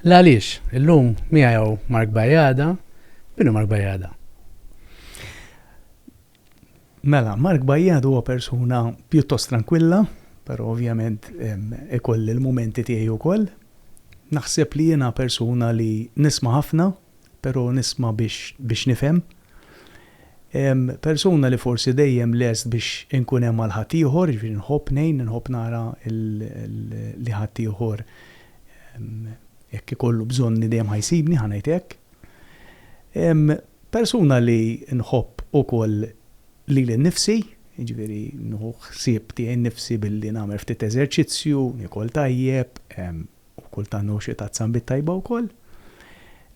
L-għaliex, illum miegħu Mark Bajada, binu Mark Bajada. Mela, Mark Bajjad huwa persuna pjuttost trankwilla, però ovvjament ikolli l-mumenti tiegħi wkoll. Naħseb li jiena persuna li nisma' ħafna, però nisma' biex biex nifhem. Persuna li forsi dejjem lest biex inkun hemm għal ħaddieħor, jiġifieri nħobb ngħin, inħobb nara li ħaddieħor jekk ikollu bżonni dejjem ħa jsibni, ħa ngħid hekk. Persuna li nħobb ukoll lili nnifsi, jiġifieri nieħu ħsieb tiegħi nnifsi billi nagħmel ftit eżerċizzju, niekol tajjeb, u kultant nieħu xi tazza nbid tajba wkoll.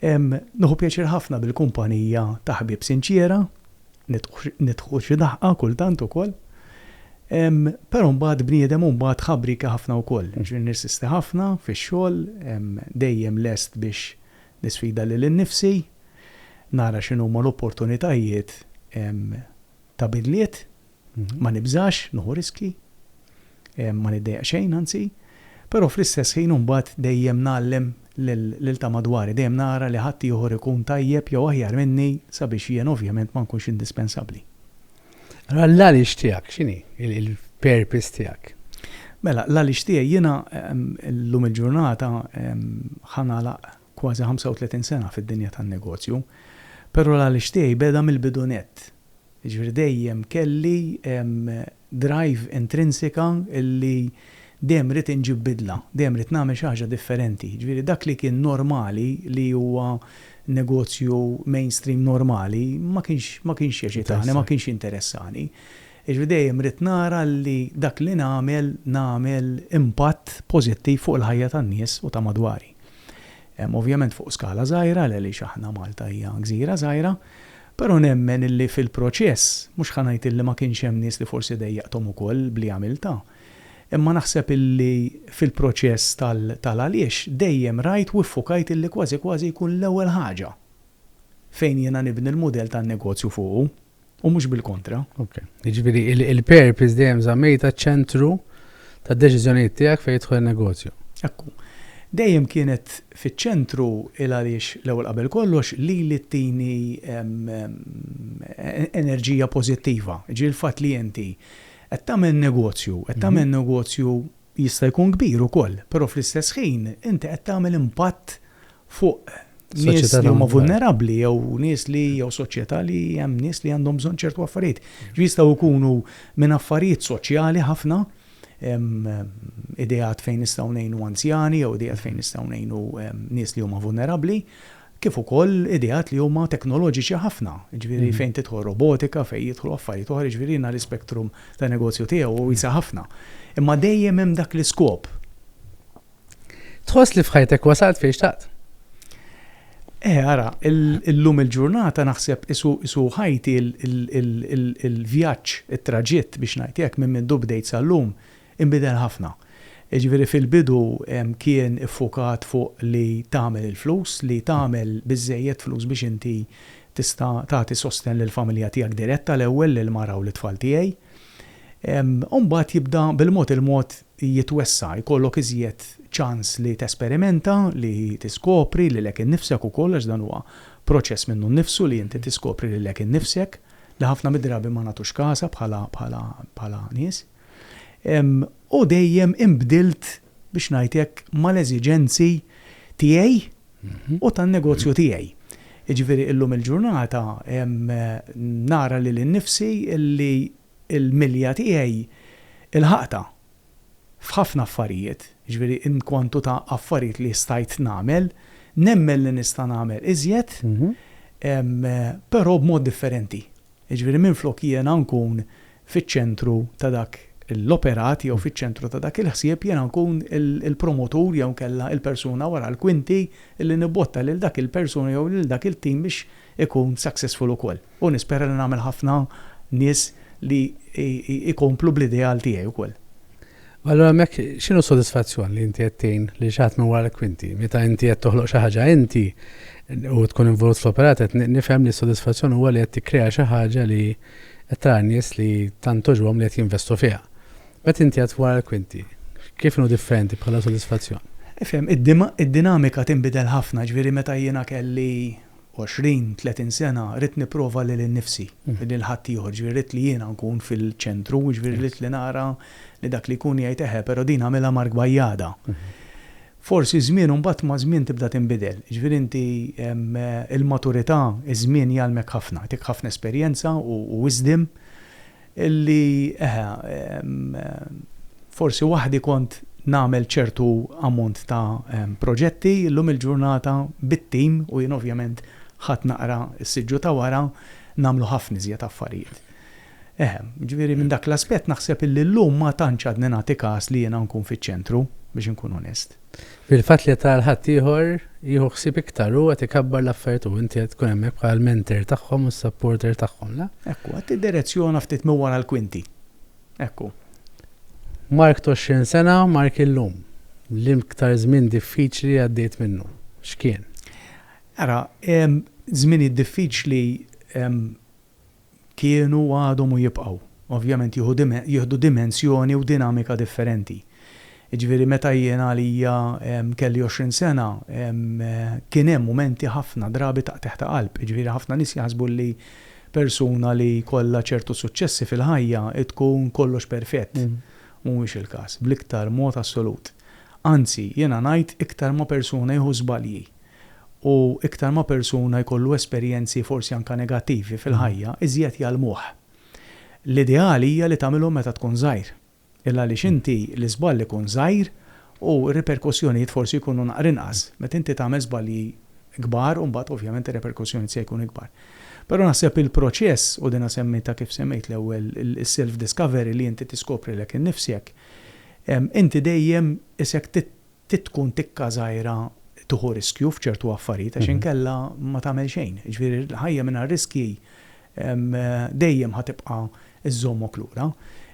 Nieħu pjaċir ħafna bil-kumpanija ta' ħbieb sinċiera, nidħku xi daħqa kultant ukoll. Però mbagħad bniedem hu mbagħad ħabrieki ħafna wkoll, jiġifieri nirsisti ħafna fix-xogħol, dejjem lest biex Nisfida lili nnifsi, nara x'inhuma l-opportunitajiet ta' bidliet, ma nibżax nieħu riskji, ma niddejjaq xejn anzi, però fl-istess ħin imbagħad dejjem ngħallem lil ta' madwari, dejjem nara li ħaddieħor ikun tajjeb jew aħjar minni sabiex jien ovvjament ma nkunx indispensabbli. Allora l-għaliex tiegħek x'inhi il-purpose tiegħek? Mela, l-għaliex tiegħi jiena llum il-ġurnata ħanalaq kważi 35 sena fid-dinja tan-negozju, però l-għaliex tiegħi beda mill-bidunet. Jiġifieri dejjem kelli drive intrinsika li Dejjem irrid inġib bidla, dejjem irrid nagħmel xi ħaġa differenti. Jiġifieri dak li kien normali li huwa negozju mainstream normali ma kienx ma kienx jeċitani, ma kienx jinteressani. Jiġifieri dejjem irrid nara li dak li nagħmel nagħmel impatt pożittiv fuq il-ħajja tan-nies u ta' madwari. Ovvjament fuq skala żgħira għaliex aħna Malta hija gżira żgħira, però nemmen li fil-proċess, mhux ħa ngħid li ma kienx hemm nies li forsi dejjaqthom ukoll b'li għamiltha, Imma naħseb illi fil-proċess tal-għaliex dejjem rajt u ffokajt illi kważi kważi jkun l-ewwel ħaġa fejn jiena nibni l-mudell tan-negozju fuqu u mhux bil-kontra. Ok. Jiġifieri il-purpose dejjem żammejtha ċ-ċentru tad-deċiżjonijiet tiegħek fejn jidħol in-negozju. Ekku. Dejjem kienet fiċ-ċentru il-għaliex l-ewwel qabel kollox lili tini enerġija pożittiva. Jiġifieri l-fatt li inti Qed tagħmel negozju, qed tagħmel negozju jista' jkun kbir ukoll, però fl-istess ħin inti qed tagħmel impatt fuq nies li huma vulnerabbli jew nies li jew soċjetà li hemm nies li għandhom bżonn ċertu affarijiet. Jistgħu jkunu minn affarijiet soċjali ħafna, ideat fejn nistgħu ngħinu anzjani jew ideat fejn nistgħu ngħinu nies li huma vulnerabbli, kif ukoll ideat li huma teknoloġiċi ħafna, jiġifieri fejn tidħol robotika, fejn jidħlu affarijiet oħra, jiġifieri jiena l-ispektrum ta' negozju tiegħi huwa wiesa' ħafna. Imma dejjem hemm dak l-iskop. Tħoss li f'ħajtek wasalt fejn xtaqt? Eh, ara, illum il-ġurnata naħseb qisu ħajti l-vjaġġ, it-traġitt biex ngħid hekk, minn mindu bdejt sal-lum, Inbidel ħafna. Jiġifieri fil-bidu kien iffukat fuq li tagħmel il-flus, li tagħmel biżżejjed flus biex inti tista' tagħti sostenn lill-familja tiegħek diretta l-ewwel, lill-mara u lit-tfal tiegħi. U mbagħad jibda bil-mod il-mod jitwessa', jkollok iżjed ċans li tesperimenta, li tiskopri lilek innifsek ukoll għax dan huwa proċess minnu nnifsu li inti tiskopri lilek innifsek, li ħafna mid-drabi ma nagħtux kasha bħala nies. u dejjem inbdilt, biex ngħid hekk, mal-eżiġenzi tiegħi u tan-negozju tiegħi. Jiġifieri illum il-ġurnata nara lili nnifsi li l-milja tiegħi lħaqtha f'ħafna affarijiet, jiġifieri in kwantu ta' affarijiet li stajt nagħmel, nemmen li nista' nagħmel iżjed, però b'mod differenti. Jiġifieri minflok jiena nkun fiċ-ċentru ta' dak l-operat jew fiċ-ċentru ta' dak il-ħsieb, jiena nkun il-promotur jew inkella il-persuna wara l-kwinti li nibbotta lil dak il-persuna jew lil dak il-tim biex ikun successful ukoll. U nispera li nagħmel ħafna nies li jkomplu bl-ideal tiegħi wkoll. U allura hemmhekk x'inhu s-sodisfazzjon li inti qed tgħin lil xi ħadd minn wara l-kwinti? Meta inti qed toħloq xi ħaġa inti u tkun involut fl-operat qed nifhem li s-sodisfazzjon huwa li qed tikkrea xi ħaġa li qed tara n-nies li tant togħġbhom li qed jinvestu fiha. Meta inti qed wara l-kwinti, kif inhu differenti bħala sodisfazzjon? Ifhem, id-dinamika tinbidel ħafna, ġifieri meta jiena kelli 20, 30 sena ridt nipprova lili nnifsi, lil ħaddieħor, jiġifieri ridt li jiena nkun fil-ċentru, jiġifieri ridt li nara li dak li jkun jgħid eħe, però din għamilha Mark Bajada. Forsi ż-żmien u mbagħad maż-żmien tibda tinbidel, jiġifieri inti il-maturità, iż-żmien jgħallmek ħafna, jagħtik ħafna esperjenza u wisdom Li, eħe, forsi waħdi kont nagħmel ċertu ammont ta' proġetti, illum il-ġurnata bit-tim, u jien ovvjament ħadt naqra s-siġġu ta' wara, nagħmlu ħafna iżjed affarijiet. Eħe, jiġifieri minn dak l-aspett naħseb illi llum ma tantx għadni nagħti kas li jiena nkun fiċ-ċentru, biex inkun onest. Fil-fatt li qed tara li ħaddieħor jieħu ħsieb iktar, hu qed ikabbar l-affarijiet u inti qed tkun hemmhekk bħala l-mentor tagħhom u s-supporter tagħhom, le? Hekk hu, qed tiddirezzjona ftit minn wara l-kwinti. Hekk hu. Mark t'għoxrin sena, Mark illum. L-iktar żmien diffiċli li għaddejt minnu, x'kien? Ara, żminijiet diffiċli kienu, għadhom u jibqgħu, ovvjament jieħu dimen, jieħdu dimensjoni u dinamika differenti. Jiġifieri meta jien għalija kelli għoxrin sena, kien hemm mumenti ħafna drabi ta' qtigħ ta' qalb. Jiġifieri ħafna nies jaħsbu li persuna li jkollha ċertu suċċessi fil-ħajja tkun kollox perfett. Mhuwiex il-każ, bl-iktar mod assolut. Anzi, jiena ngħid iktar ma persuna jieħu żbalji, U iktar ma persuna jkollu esperjenzi forsi anka negattivi fil-ħajja, iżjed jgħallmuh. L-ideali hija li tagħmilhom meta tkun żgħir. Il-għaliex inti l-iżball ikun żgħir u r-riperkussjonijiet forsi jkunu naqra inqas. Meta inti tagħmel żbalji kbar u mbagħad ovvjament ir-riperkussjonijiet se jkunu ikbar. Però naħseb il-proċess, u dinha semmitha kif semmejt l-ewwel, is-self-discovery li inti tiskopri lek innifsek, inti dejjem isek trid tkun tikka żgħira tieħu riskju f'ċertu affarijiet għax inkella ma tagħmel xejn. Jiġifieri ħajja mingħajr riskji dejjem ħa tibqa' żżommok lura.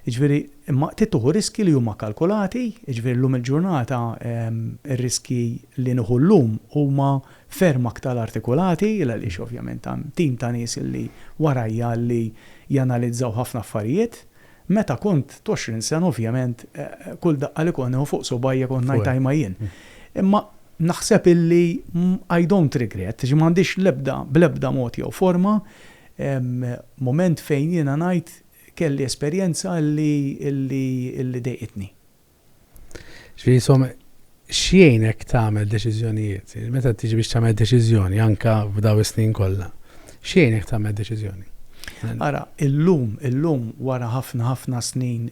Jiġifieri imma trid tieħu riskji li huma kalkulati, jiġifieri llum il-ġurnata r-riskji li nieħu llum huma ferm aktar artikulati għaliex ovvjament hemm tim ta' nies li warajja li janalizzaw ħafna affarijiet. Meta kont t'għoxrin sena ovvjament kull daqqa li kont nieħu fuq subgħajja kont ngħid ajma jien. Imma naħseb illi I don't regret, ġi m'għandix l-ebda, bl-ebda mod jew forma, mument fejn jiena ngħid kelli esperjenza illi, illi, illi dejqitni. Ġifieri insomma x'jgħinek tagħmel deċiżjonijiet? Meta tiġi biex tagħmel deċiżjoni anke f'daw is-snin kollha, x'jgħinek tagħmel deċiżjoni? Ara, illum, illum wara ħafna ħafna snin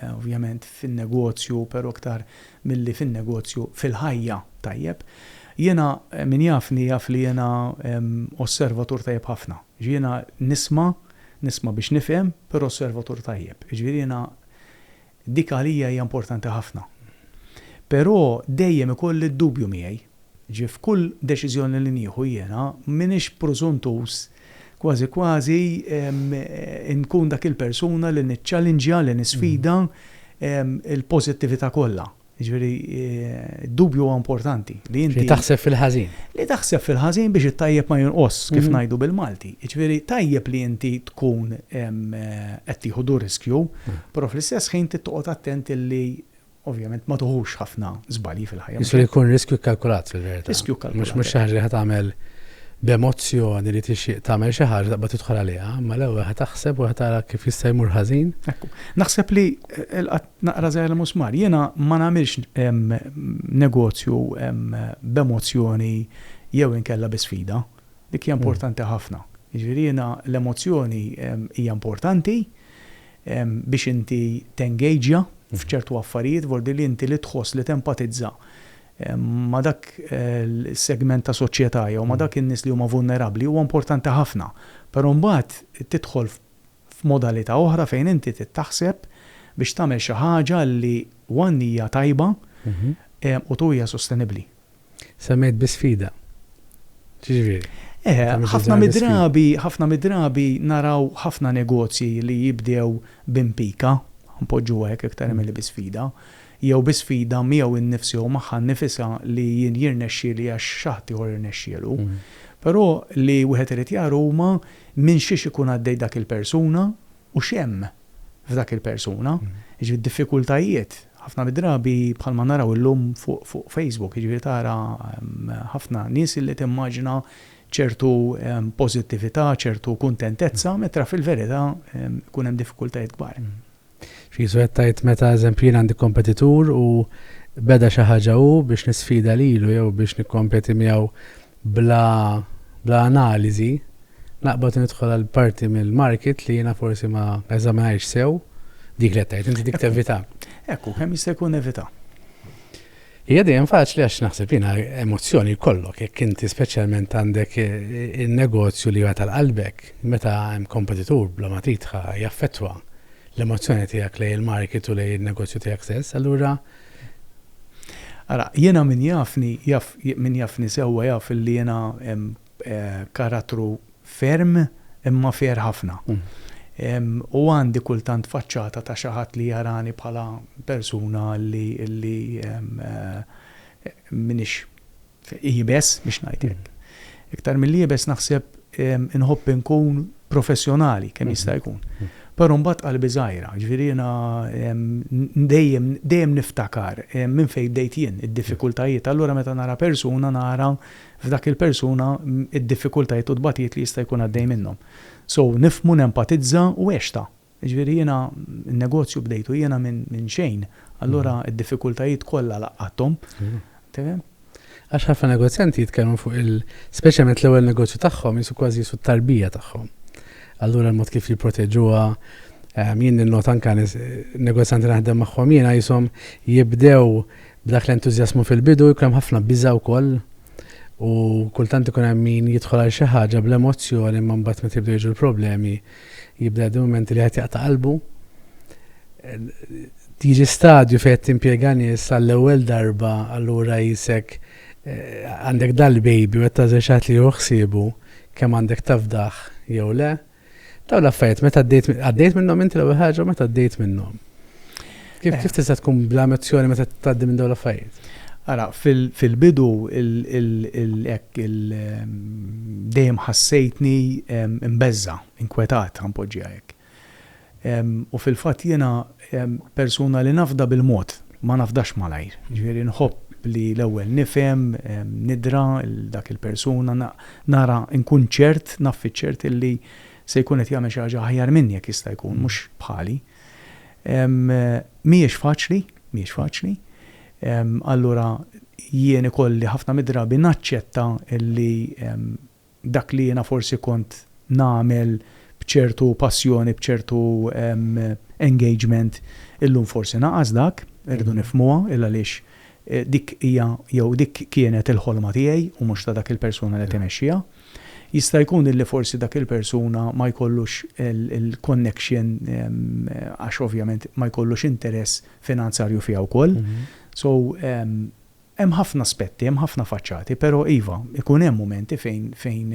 ovvjament fin-negozju, però iktar milli fin-negozju, fil-ħajja, tajjeb, jiena min jafni jaf li jiena osservatur tajjeb ħafna. Jiġifieri jiena nisma', nisma' biex nifhem, però osservatur tajjeb. Jiġifieri jiena Dik għalija hija importanti ħafna. Però dejjem ikolli d-dubju miegħi. Ġifieri f'kull deċiżjoni li nieħu jiena m'iniex prużuntuż kważi kważi inkun dak il-persuna li niċċalinġja, li nisfida l-pożittività kollha. Jiġifieri d-dubju huwa importanti li inti. Li taħseb fil-ħażin. Li taħseb fil-ħażin biex it-tajjeb ma jonqosx, kif ngħidu bil-Malti. Jiġifieri tajjeb li inti tkun qed tieħu du riskju, però fl-istess ħin trid toqgħod attent illi ovvjament ma tuħux ħafna żbalji fil-ħajja. Jiġifieri jkun riskju kkalkulat fil-verità. Riskju kkalkulat. Mhux xi ħaġa li ħa tagħmel b'emozzjoni li tixtieq tagħmel xi ħaġa taqbad tidħol għaliha, imma l-ewwel ħa taħseb u ħa tara kif jista' jmur ħażin. Ekku. Naħseb li Naqra żgħir il-musmar. Jiena ma nagħmilx negozju b'emozzjoni jew inkella bi sfida. Dik hija importanti ħafna. Jiġifieri jiena l-emozzjoni hija importanti biex inti tengageja f'ċertu affarijiet, vuol dir li inti li tħoss li tempatizza ma' dak is-segment ta' soċjetà jew ma' dak in-nies li huma vulnerabbli huwa importanti ħafna. Però mbagħad tidħol f'modalità oħra fejn inti trid taħseb biex tagħmel xi ħaġa li one hija tajba u two hija sostenibbli. Semmejt bi sfida. X'jiġifieri? Eħe, ħafna mid-drabi, ħafna mid-drabi naraw ħafna negozji li jibdew b'impika, ħa npoġġuha hekk iktar milli bi sfida, jew bi sfida miegħu nnifsu jew magħha nnifisha li jien jirnexxieli għax xi ħadd ieħor irnexxielu. Però li wieħed irid jara huma minn xiex ikun għaddej dak il-persuna u x'hemm f'dak il-persuna. Jiġifieri d-diffikultajiet ħafna mid-drabi bħalma naraw illum fuq Facebook, jiġifieri tara ħafna nies illi timmaġina ċertu pożittività, ċertu kuntentezza, metra fil-verità jkun hemm diffikultajiet kbar. Ġesù qed tgħid meta eżempju jien għandi kompetitur u beda xi ħaġa hu biex nisfida lilu jew biex nikkompeti miegħu bla bla analiżi naqbad nidħol għal parti mill-market li jiena forsi ma eżaminajx sew dik li qed tgħid inti dik tevita. Ekku, kemm jista' jkun evita. Hija dejjem faċli għax naħseb jiena emozzjoni jkollok jekk inti speċjalment għandek in-negozju li huwa tal-qalbek. Meta hemm kompetitur bla ma titħa jaffettwa l-emozzjoni tiegħek lejn il-market u lejn in-negozju tiegħek stess, allura Ara, jiena min jafni jaf min jafni sewwa jaf li jiena karattru Ferm, imma fier ħafna. U għandi kultant faċċata ta' xi ħadd li jarani bħala persuna li li m'iniex iebes, biex ngħid hekk. Iktar milli iebes naħseb inħobb inkun professjonali kemm jista' jkun. Però mbagħad qalbi żgħira, jiġifieri jiena dejjem dejjem niftakar minn fejn bdejt jien, id-diffikultajiet. Allura meta nara persuna nara f'dak il-persuna id-diffikultajiet u t-tbatijiet li jista' jkun għaddej minnhom. So, nifhmu, nenpatizza u għextha. Jiġifieri jiena n-negozju bdejtu jiena minn xejn, allura d-diffikultajiet kollha laqgħathom. Tifhem? Għax ħafna negozjanti jitkellmu fuq il, speċjalment l-ewwel negozju tagħhom qisu kważi qisu t-tarbija tagħhom. Allura l-mod kif jipproteġuha, jien ninnota anke negozjanti naħdem magħhom jiena qishom jibdew B'dak l-entużjażmu fil-bidu jkun hemm ħafna biża' wkoll u kultant ikun hemm min jidħol għal xi ħaġa bl-emozzjoni imma mbagħad meta jibdew jiġu l-problemi jibda jgħaddi mumenti li wieħed jaqta' qalbu. Jiġi stadju fejn qed timpjega nies għall-ewwel darba allura qisek għandek dal-baby u qed tagħżel xi ħadd li jieħu ħsiebu kemm għandek tafdah jew le. Dawn l-affarijiet, meta għaddejt għaddejt minnhom inti l-ewwel ħaġa u meta għaddejt minnhom. Kif Eh. kif tista' tkun bla emozzjoni meta tgħaddi minn dawn l-affarijiet? Ara, fil- fil-bidu il- il- il- hekk il- em, dejjem ħassejtni em, imbeżża, inkwetat, ħanpoġġiha hekk. U fil-fatt jiena persuna li nafda bil-mod, ma nafdax malajr. Jiġifieri nħobb li l-ewwel nifhem, nidra 'l dak il-persuna, nara nkun ċert, naf fiċ-ċert illi se jkun qed jagħmel xi ħaġa aħjar minni jekk jista' jkun, mhux bħali. Mhijiex faċli, mhijiex faċli. Allura jien ikolli ħafna mid-drabi naċċetta illi dak li jiena forsi kont nagħmel b'ċertu passjoni, b'ċertu engagement, illum forsi naqas dak, irridu nifhmuha, il-għaliex dik hija jew dik kienet il-ħolma tiegħi u mhux ta' dak il-persuna li qed imexxiha. Jista' jkun illi forsi dak il-persuna ma jkollux il-connection għax ovvjament ma jkollux interess finanzarju fija wkoll. So, Hemm ħafna aspetti, hemm ħafna faċċati, però iva, ikun hemm mumenti fejn fejn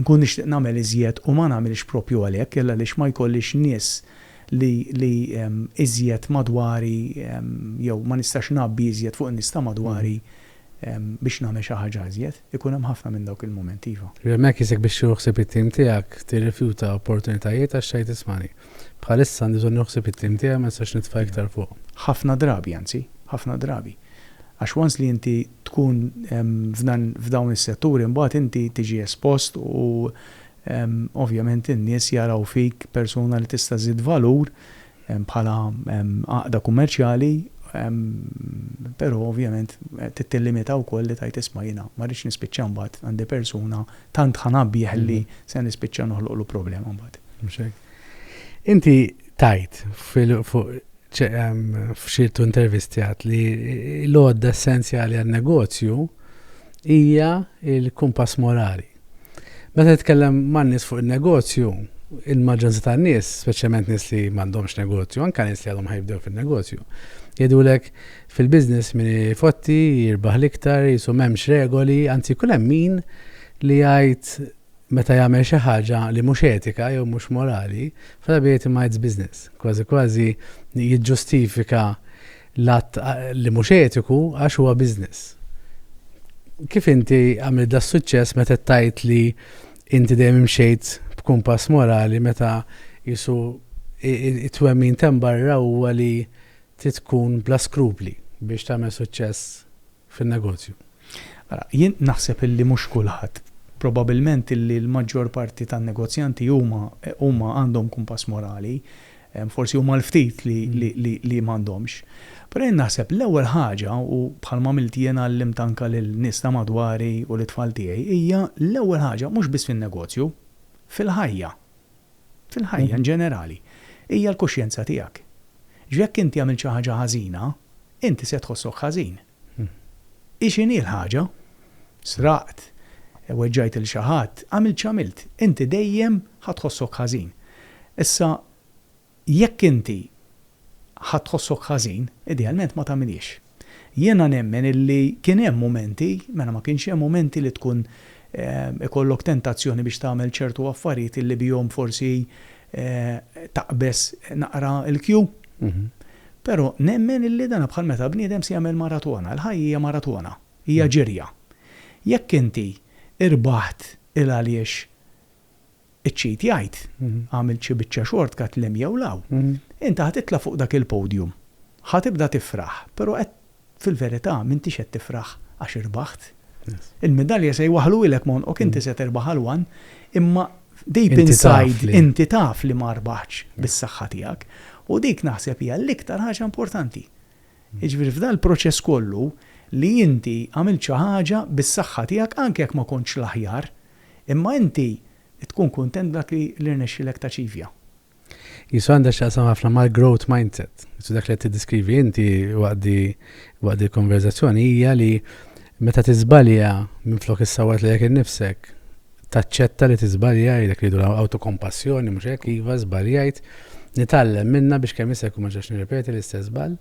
inkun nixtieq nagħmel iżjed u ma nagħmilx proprju għalhekk jalla għaliex ma jkollix nies li li iżjed madwari jew ma nistax ngħabbi iżjed fuq in-nies ta' madwari biex nagħmel xi ħaġa iżjed. Ikun hemm ħafna minn dawk il-mumenti, iva. Remek jisek biex tieħu ħsieb it-tim tiegħek, tirrifjuta opportunitajiet għax tgħid ismani, bħalissa għandi bżonn nieħu ħsieb it-tim tiegħi ma nistax nitfa' iktar fuq. Ħafna drabi, anzi, ħafna drabi. Għax once li inti tkun f'dan f'dawn is-setturi mbagħad inti tiġi espost u ovvjament in-nies jaraw fik persuna li tista' żżid valur bħala għaqda kummerċjali, però ovvjament trid tillimita wkoll li tgħid isma' jiena ma rridx nispiċċa mbagħad għandi persuna tant ħanabbieħ li se nispiċċa noħloqlu problema mbagħad. Mhux hekk? Inti tgħid fuq f'ċertu intervisti għad li l-għodda essenzjali għan-negozju hija l-kumpass morali. Meta nitkellem man-nies fuq in-negozju, il-maġġoranza tan-nies, speċjalment nies li m'għandhomx negozju, anke nies li għadhom ħajbdew fin-negozju, jgħidulek fil-business min ifotti jirbaħ l-iktar, qisu m'hemmx regoli, anzi jkun hemm min li jgħid meta jagħmel xi ħaġa li mhux etika jew mhux morali, f'drabi jgħid imma it's business. Kważi kważi jiġġustifika L-att li mhux etiku għax huwa business. Kif inti għamilt das-suċċess meta qed tgħid li inti dejjem imxejt b'kumpass morali meta qisu t-twemmin t'hemm barra huwa li trid tkun bla skrupli biex tagħmel suċċess fin-negozju. Ara, jien naħseb illi mhux kulħadd. Probabilment illi l-maġġor parti tan-negozjanti huma huma għandhom kumpass morali, forsi huma l-ftit li li li li m'għandhomx. Però jien naħseb l-ewwel ħaġa, u bħal m'għamilt jien għallimt anke lil nies ta' madwari u lit-tfal tiegħi, hija l-ewwel ħaġa mhux biss fin-negozju, fil-ħajja. fil-ħajja in ġenerali, hija l-kuxjenza tiegħek. Ġifieri jekk inti għamilt xi ħaġa ħażina, inti se tħossok ħażin. Hi x'inhi l-ħaġa, sraqt, weġġajt lil xi ħadd, għamilt x'għamilt, inti dejjem ħa tħossok ħażin. Issa, Jekk inti ħadd tħossok ħażin, idealment ma tagħmilhiex. Jiena nemmen illi kien hemm mumenti, mela ma kienx hemm mumenti li tkun ikollok tentazzjoni biex tagħmel ċertu affarijiet illi bihom forsi taqbeż naqra l-kju? Però nemmen illi dan bħal meta bniedem se jagħmel maratona, il-ħajja hija maratona, hija ġirja. Jekk inti rbaħt il-għaliex Iċ-ċit jgħid, għamilt xi biċċa short cut l-hemm jew 'l hawn. Inta ħa titla' fuq dak il-podium. Ħa tibda tifraħ, però qed fil-verità m'intix qed tifraħ għax irbaħt. Il-midalja se jwaħħluhilek m'għonqok, inti se tirbaħ għal one, imma deep inside inti taf li ma rbaħtx bis-saħħa tiegħek. U dik naħseb hija l-iktar ħaġa importanti. Jiġifieri f'dan il-proċess kollu li inti għamilt xi ħaġa bis-saħħa tiegħek anke jekk ma kontx l-aħjar, Imma inti tkun kuntent b'dak li rnexxielek taċivja. Qisu għandha x'taqsam ħafna mal-growth mindset. Qisu dak li qed tiddiskrivi inti waqt di waqt di l-konverżazzjoni hija li meta tiżbalja minflok issawwat lilek innifsek, taċċetta li tiżbalja jgħidlek li jdu awtokompassjoni mhux hekk iva żbaljajt, nitgħallem minnha biex kemm jista' jkun ma ġax nirrepeti l-istess żball.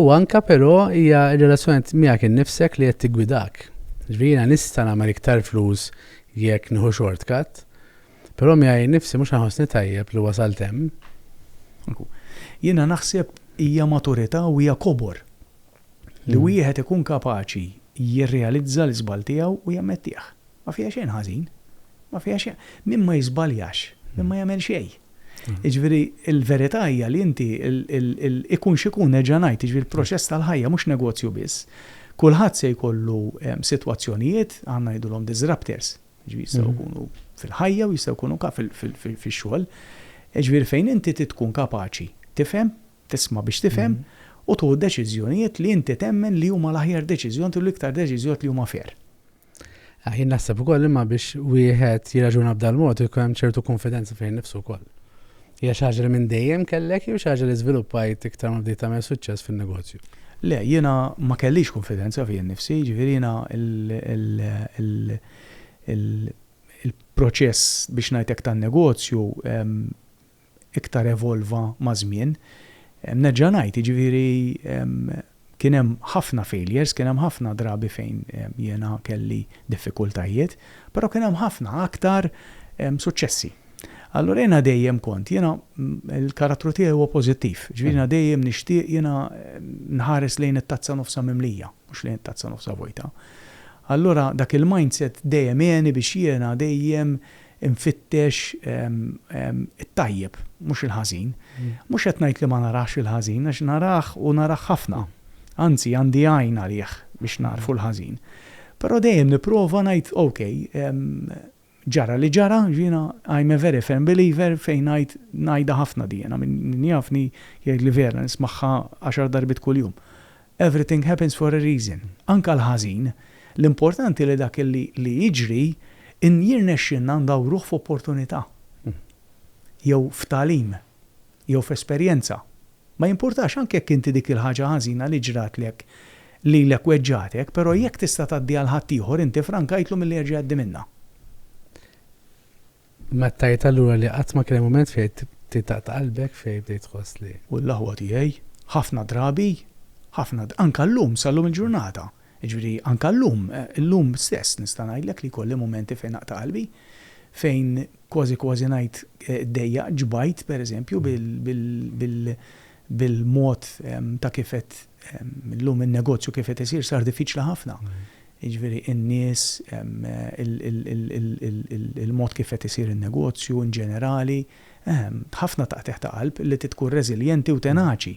U anke però hija r-relazzjoni miegħek innifsek li qed tiggwidak. Jiġifieri jiena nista' nagħmel iktar flus jekk nieħu shortcut, però miegħi nnifsi mhux ħanħossni tajjeb li wasalt hemm. Jiena naħseb hija maturità u hija kobor li wieħed ikun kapaċi jirrealizza l-iżball tiegħu u jammettih. Ma fiha xejn ħażin. Ma fiha xejn. Min ma jiżbaljax, min ma jagħmel xejn. Jiġifieri l-verità hija li inti ikun x'ikun nerġa' ngħid, jiġifieri l-proċess tal-ħajja mhux negozju biss. Kulħadd se jkollu sitwazzjonijiet, aħna ngħidulhom disruptors, jiġifieri jistgħu jkunu fil-ħajja u jistgħu jkunu fix-xogħol. Jiġifieri fejn inti trid tkun kapaċi tifhem, tisma' biex tifhem u tieħu deċiżjonijiet li inti temmen li huma l-aħjar deċiżjoni u l-iktar deċiżjoni li huma fair. Ah, jien naħseb ukoll imma biex wieħed jirraġuna b'dal mod ikun hemm ċertu konfidenza fejn nifsu wkoll. Hija xi ħaġa li minn dejjem kellek jew xi ħaġa li żviluppajt iktar ma bdejt tagħmel suċċess fin-negozju? Le, jiena ma kellix konfidenza fija nnifsi, jiġifieri jiena il-proċess biex ngħidlek tan-negozju iktar evolva maż-żmien. Nerġa' ngħid, jiġifieri kien hemm ħafna failures, kien hemm ħafna drabi fejn jiena kelli diffikultajiet, però kien hemm ħafna aktar suċċessi. Allura jiena dejjem kont, jiena l-karattru tiegħi huwa pożittiv, jiġifieri jiena dejjem nixtieq, jiena nħares lejn it-tazza nofsha mimlija, mhux lejn it-tazza nofsha vojta. Allura dak il-mindset dejjem għeni biex jiena dejjem Infittex it-tajjeb, mhux il-ħażin. Mhux qed ngħid li ma narax il-ħażin, għax narah u narah ħafna. Anzi, għandi għajn għalih biex nagħrfu l-ħażin. Però dejjem nipprova ngħid, ok, ġara li ġara, jiena I'm a very firm believer fejn ngħid, ngħidha ħafna di jiena, min jafni jgħidli vera nismagħha għaxar darbiet kuljum. Everything happens for a reason, anke l-ħażin. L-importanti li dak li li jiġri in jirnexxilna ndawruh f'opportunità, jew f'tagħlim, jew f'esperjenza. Ma jimpurtax anke jekk inti dik il-ħaġa ħażina li ġratlek lilek weġġagħtek, però jekk tista' tgħaddiha 'l ħaddieħor inti frankajtlu milli jerġa' jgħaddi minnha. Ma tgħid allura li qatt ma kien hemm mument fejn titaqta' qalbek, fejn bdejt tħoss li. U l-aħwa tiegħi, ħafna drabi, ħafna, anke llum, sal-lum il-ġurnata, jiġifieri anke llum, illum stess nista' ngħidlek li jkolli mumenti fejn naqta' qalbi, fejn kważi kważi ngħid iddejjaq, ġbajt pereżempju bil-mod ta' kif qed, illum in-negozju kif qed isir sar diffiċli ħafna. jiġifieri n-nies, il-mod kif qed isir in-negozju in ġenerali, ehm, ħafna taqtigħ ta' qalb li trid tkun reżiljenti u tenaċi.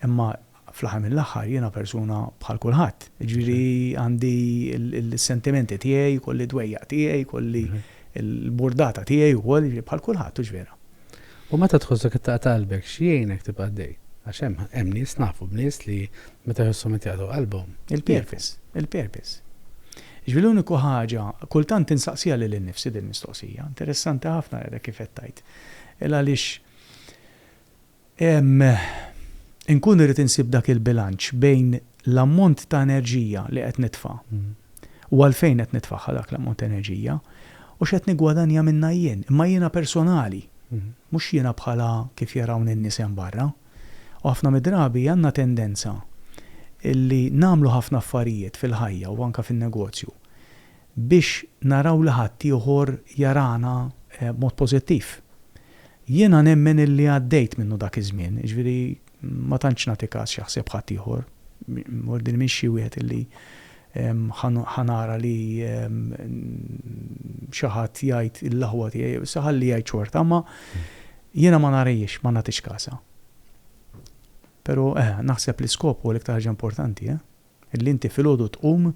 Imma fl-aħħar mill-aħħar jiena persuna bħal kulħadd, jiġifieri għandi s-sentimenti tiegħi, jkolli d-dwejjaq tiegħi, jkolli l-burdata tiegħi wkoll, jiġifieri bħal kulħadd, hux vera? U meta tħossok qed taqta' qalbek, x'jgħinek tibqa' għaddej? Għax hemm, hemm nies, nafu b'nies li meta jħossuhom qed jaqtgħu qalbhom, jieqfu. Il-purpose, il-purpose. Jiġifieri l-uniku ħaġa, kultant insaqsiha lili nnifsi dil-mistoqsija, interessanti ħafna l-għada kif qed tgħid, il-għaliex Inkun irrid insib dak il-bilanċ bejn l-ammont ta' enerġija li qed nitfa' u għalfejn qed nitfagħha dak l-ammont ta' enerġija u x'qed niggwadanja minnha jien, imma jiena personali, mhux jiena bħala kif jarawni n-nies hemm barra. U ħafna mid-drabi għandna tendenza li nagħmlu ħafna affarijiet fil-ħajja u anke fin-negozju biex naraw li ħaddieħor jarana b'mod pożittiv. Jiena nemmen illi għaddejt minnu dak iż-żmien, jiġifieri ma tantx nagħti kas x'jaħseb ħaddieħor, mur din m'iniex xi wieħed illi ħa nara li xi ħadd jgħid l-aħwa tiegħi jew issa ħalli jgħid xorta, imma jiena ma narihiex, ma nagħtix kasha. Però, eh, naħseb li skop huwa l-iktar ħaġa importanti, eh? Li inti filgħodu tqum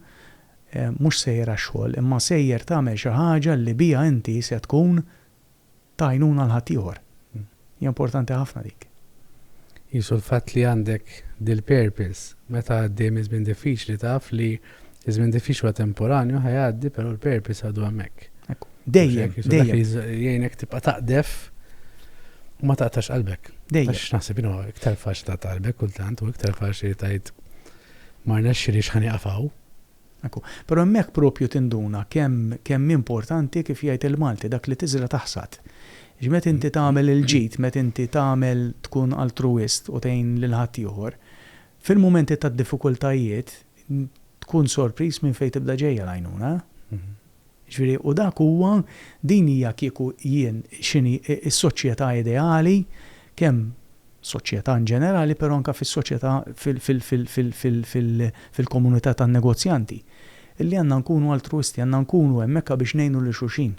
mhux sejjer għax-xogħol imma sejjer tagħmel xi ħaġa li biha inti se tkun ta' għajnuna għal ħaddieħor. Hija importanti ħafna dik. Qisu l-fatt li għandek dil-purpose meta għaddej minn żmien diffiċli taf li ż-żmien diffiċli huwa temporanju ħa jgħaddi però l-purpose għadu hemmhekk. Ekku. Dejjem, dejjem. Jgħinek tibqa' taqdef u ma taqtax qalbek. Dejjem. Għax naħseb inhu iktar faċ ta' qalbek kultant u iktar faċ li tajt ma rnexxi li xħani qafaw. Ekku, però hemmhekk propju tinduna kemm kemm importanti kif jgħid il-Malti dak li tiżra' taħsad. Ġmet inti tagħmel il-ġid, met inti tagħmel tkun altruwist u tgħin lil ħaddieħor, Fil-mumenti ta' diffikultajiet, tkun sorpriż minn fejn tibda ġejja l-għajnuna. Jiġifieri, u dak huwa, din hija kieku jien x'inhi s-soċjetà ideali, kemm soċjetà in ġenerali, però anke fis-soċjetà fil-komunità tan-negozjanti, li għandna nkunu altruwisti, għandna nkunu hemmhekk biex ngħinu lil xulxin,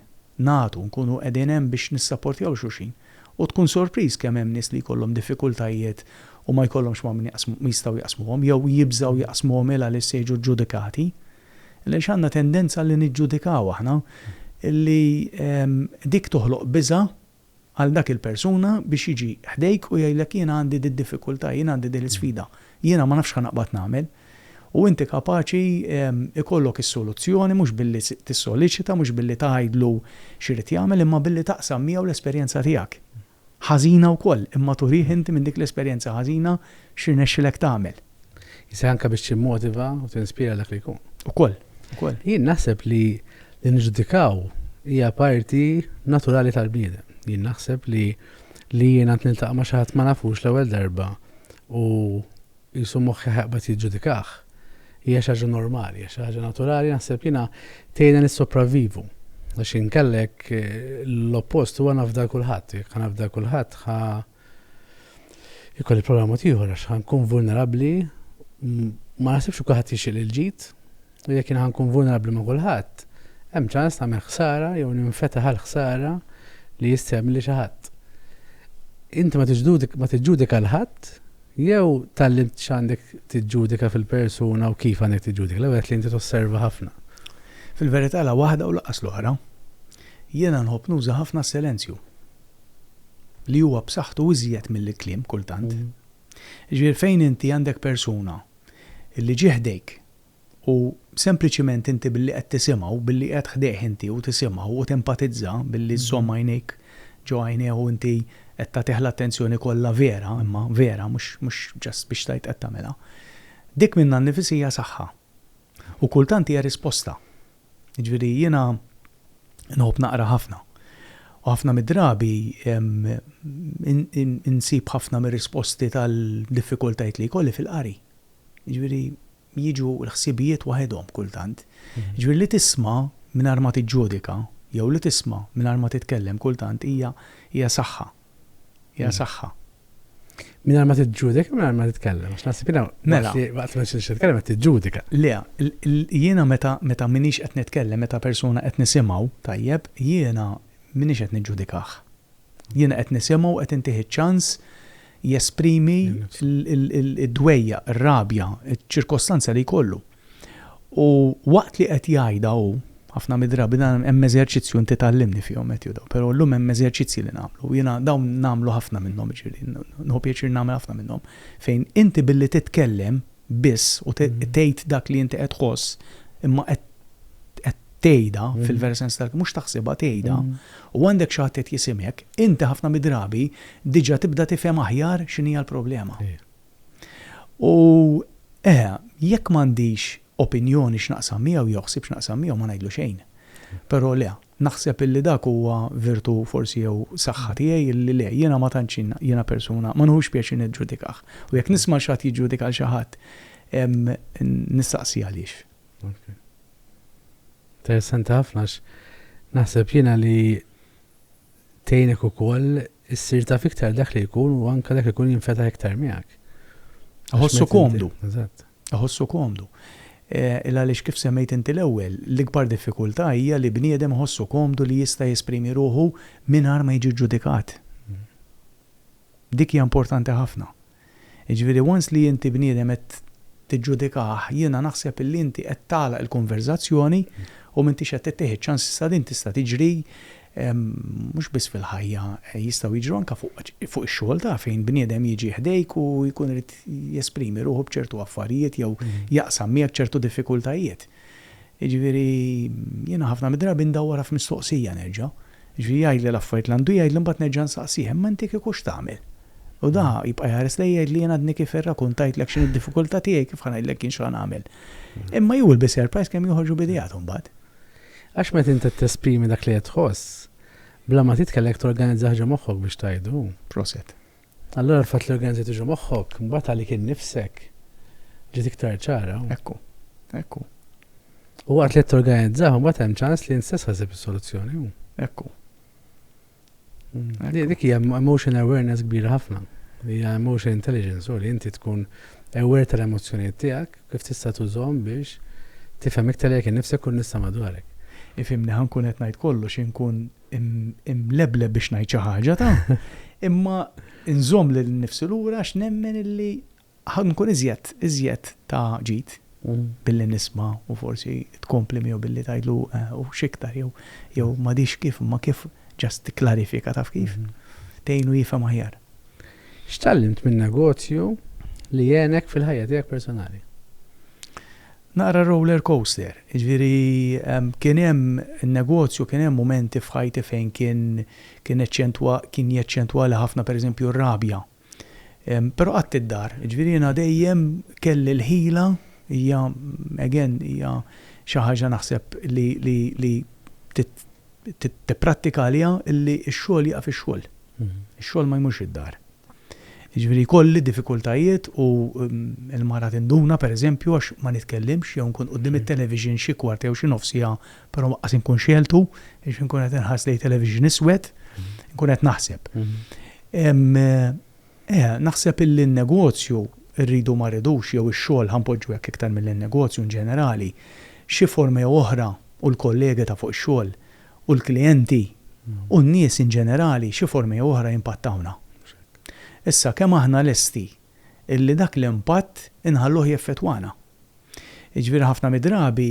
nagħtu, nkunu qegħdin hemm biex nissaportjaw xulxin. U tkun sorpriż kemm hemm nies li jkollhom diffikultajiet u ma jkollhomx ma' min jaqsmu, ma jistgħu jaqsmuhom, jew jibżgħu jaqsmuhom il għaliex se jiġu ġġudikati. Il għaliex għandna tendenza li niġġudikaw aħna, li dik toħloq biża' għal dak il-persuna biex jiġi ħdejk u jgħidlek jiena għandi did-diffikultà, jiena għandi din l-isfida, jiena ma nafx ħa naqbad nagħmel. U inti kapaċi jkollok is-soluzzjoni mhux billi tissoliċita, mhux billi tgħidlu x'irid jagħmel, imma billi taqsam miegħu l-esperjenza tiegħek. Ħażina wkoll, imma turih inti minn dik l-esperjenza ħażina x'irnexxilek tagħmel. Jista' anke biex timmotiva u tinspira dak li jkun. Ukoll, ukoll. Jien naħseb li li niġġudikaw hija parti naturali tal-bniedem. Jien naħseb li li jiena niltaqa' ma' xi ħadd ma nafux l-ewwel darba u qisu moħħi ħajqbad jiġġudikah, hija xi ħaġa normali, hija xi ħaġa naturali naħseb jiena tgħinha nissopravvivu. Għax inkella jekk l-oppost huwa nafda kulħadd, jekk nafda kulħadd ħa ikolli problema mod ieħor għax ħankun vulnerabbli ma naħsibx kulħadd jixtieq il-ġid, U jekk jien ħa nkun vulnerabbli ma' kulħadd, hemm ċans nagħmel ħsara jew ninfetaħ għall-ħsara li jista' jagħmilli xi ħadd. Inti ma tiġġudika 'l ħadd jew tgħallimt x'għandek tiġġudika fil-persuna u kif għandek tiġġudika? L-ewwel qed li inti tosserva ħafna. Fil-verità la waħda u lanqas l-oħra. Jiena nħobb nuża ħafna s-silenzju li huwa b'saħħtu iżjed mill-kliem kultant. Jiġifieri fejn inti għandek persuna li ġie ħdejk U sempliċiment inti billi qed tisimgħu, billi qiegħed ħdejh inti u tisimgħu u tempatizza, billi żżomm għajnejk ġo għajnejh u inti qed tagħtih l-attenzjoni kollha vera, imma vera, mhux mhux just biex tgħid qed tagħmilha, dik minnha nnifis hija saħħa. U kultant hija risposta. Jiġifieri jiena nħobb naqra ħafna. U ħafna mid-drabi insib ħafna mir-risposti tal-diffikultajiet li jkolli fil-qari. Jiġifieri jiġu l-ħsibijiet waħedhom kultant. Jiġifieri li tisma' mingħajr ma tiġġudika jew li tisma' mingħajr ma titkellem kultant hija hija saħħa. Hija saħħa. Mingħajr ma tiġġudika u mingħajr ma titkellem għax naħseb jiena Mela. waqt li waqt li ma tridx titkellem qed tiġġudika. Le, jiena meta meta m'iniex qed nitkellem, meta persuna qed nisimgħu, tajjeb, jiena m'iniex qed niġġudikah. Jiena qed nisimgħu u qed intih iċ-ċans jesprimi d-dwejjaq, ir-rabja, iċ-ċirkostanza li jkollu. U waqt li qed jgħidha hu, ħafna mid-drabi dan hemm eżerċizzju inti tgħallimni fihom Matthew dawn, però llum hemm eżerċizzji li nagħmlu u jiena dawn nagħmlu ħafna minnhom, jiġifieri nieħu pjaċir nagħmel ħafna minnhom fejn inti billi titkellem biss u tgħid dak li inti qed tħoss imma qed tgħidha fil-vera sens tal-kelma, mhux taħsibha, tgħidha, u għandek xi ħadd qed jisimgħek, inti ħafna mid-drabi diġà tibda tifhem aħjar x'inhi l-problema. U eħe, jekk m'għandix opinjoni x'naqsam miegħu jew ħsieb x'naqsam miegħu ma ngħidlu xejn. Però le, Naħseb illi dak huwa virtù forsi jew saħħa tiegħi illi le, jiena ma tantx jiena persuna, ma nieħux pjaċir niġġudikah. U jekk nisma' xi ħadd jiġġudika lil xi ħadd, nistaqsi għaliex. Interessanti ħafna għax naħseb jiena li tgħinek ukoll Issir taf iktar dak li jkun u anke dak li jkun jinfetaħ iktar miegħek. Iħossu komdu. Eżatt. Iħossu komdu. Il għaliex kif semmejt inti l-ewwel, l-ikbar diffikultà hija li bniedem iħossu komdu li jista' jesprimi ruħu mingħajr ma jiġi ġġudikat. Dik hija importanti ħafna. Jiġifieri once li inti bniedem qed tiġġudikah, jiena naħseb illi inti qed tagħlaq il-konverżazzjoni u m'intix qed ittih iċ-ċans issa din tista' tiġri mhux biss fil-ħajja, jistgħu jiġru anke fuq ix-xogħol taf fejn bniedem jiġi ħdejk u jkun irid jesprimi ruħu b'ċertu affarijiet jew jaqsam miegħek ċertu diffikultajiet. Jiġifieri jiena ħafna mid-drabi ndawwarha f'mistoqsija nerġa'. Jiġifieri jgħidli l-affarijiet li għandu jgħidli mbagħad nerġa' nsaqsih, imma inti kieku x'tagħmel? U da jibqa' jħares lejja jgħidli jien għadni kif irrakuntajtlek x'inhi d-diffikultà tiegħi kif ħa ngħidlek jien x'ħa nagħmel. Imma he will be surprised kemm joħorġu b'ideatu mbagħad. Għax meta int qed tesprimi dak li qed tħoss, bla ma titkellem qed torganizza ħaġa moħħok biex tgħidu. Proset. Allura l-fatt li organizzajt iġu moħħok, mbagħad għalik innifsek ġiet iktar ċara. Ekku, ekku. U waqt li qed torganizzah, mbagħad hemm ċans li nstess ħasib is-soluzzjoni. Ekku. Mm. Dik hija emotion awareness kbira ħafna. Hija emotion intelligence, u li inti tkun aware tal-emozzjonijiet tiegħek kif tista' tużhom biex tifhem iktar jekk innifsek u nista' madwarek. Ifimni ħankun qed ngħid kollox inkun imlebleb biex ngħid xi ħaġa ta' imma nżomm lil nifsi lura għax nemmen illi ħankun iżjed iżjed ta' ġid mm. billi nisma' u forsi tkompli miegħu billi tgħidlu eh, u x'iktar jew jew mm. m'għadix kif imma kif ġast tikklarifika taf kif mm. tgħinu jifhem aħjar. X'tallimt minn negozju li jenek fil-ħajja tiegħek personali? Naqra roller coaster, jiġifieri kien hemm in-negozju, kien hemm mumenti f'ħajti fejn kien kien eċċentwa kien jeċċentwa li ħafna pereżempju r-rabja. Però qatt id-dar, jiġifieri jiena dejjem kelli l-ħila, hija again hija xi ħaġa naħseb li li li trid tipprattika għaliha illi x-xogħol jieqaf ix-xogħol. Ix-xogħol ma jmurx id-dar. Jiġifieri jkolli diffikultajiet u l-mara tinduna pereżempju għax ma nitkellimx jew inkun quddiem it-television xi kwart jew xi nofs siegħa però anqas inkun xegħeltu għax inkun qed inħares lejn television iswed, inkun qed naħseb. Naħseb illi n-negozju rridu ma rridux jew ix-xogħol ħa npoġġu hekk iktar milli n-negozju inġenerali xi forma jew oħra u l-kollegi ta' fuq ix-xogħol u l-klijenti u n-nies in ġenerali xi forma jew oħra jimpattawna. Issa kemm aħna lesti illi dak l-impatt inħalluh jeffettwana? Jiġifieri ħafna mid-drabi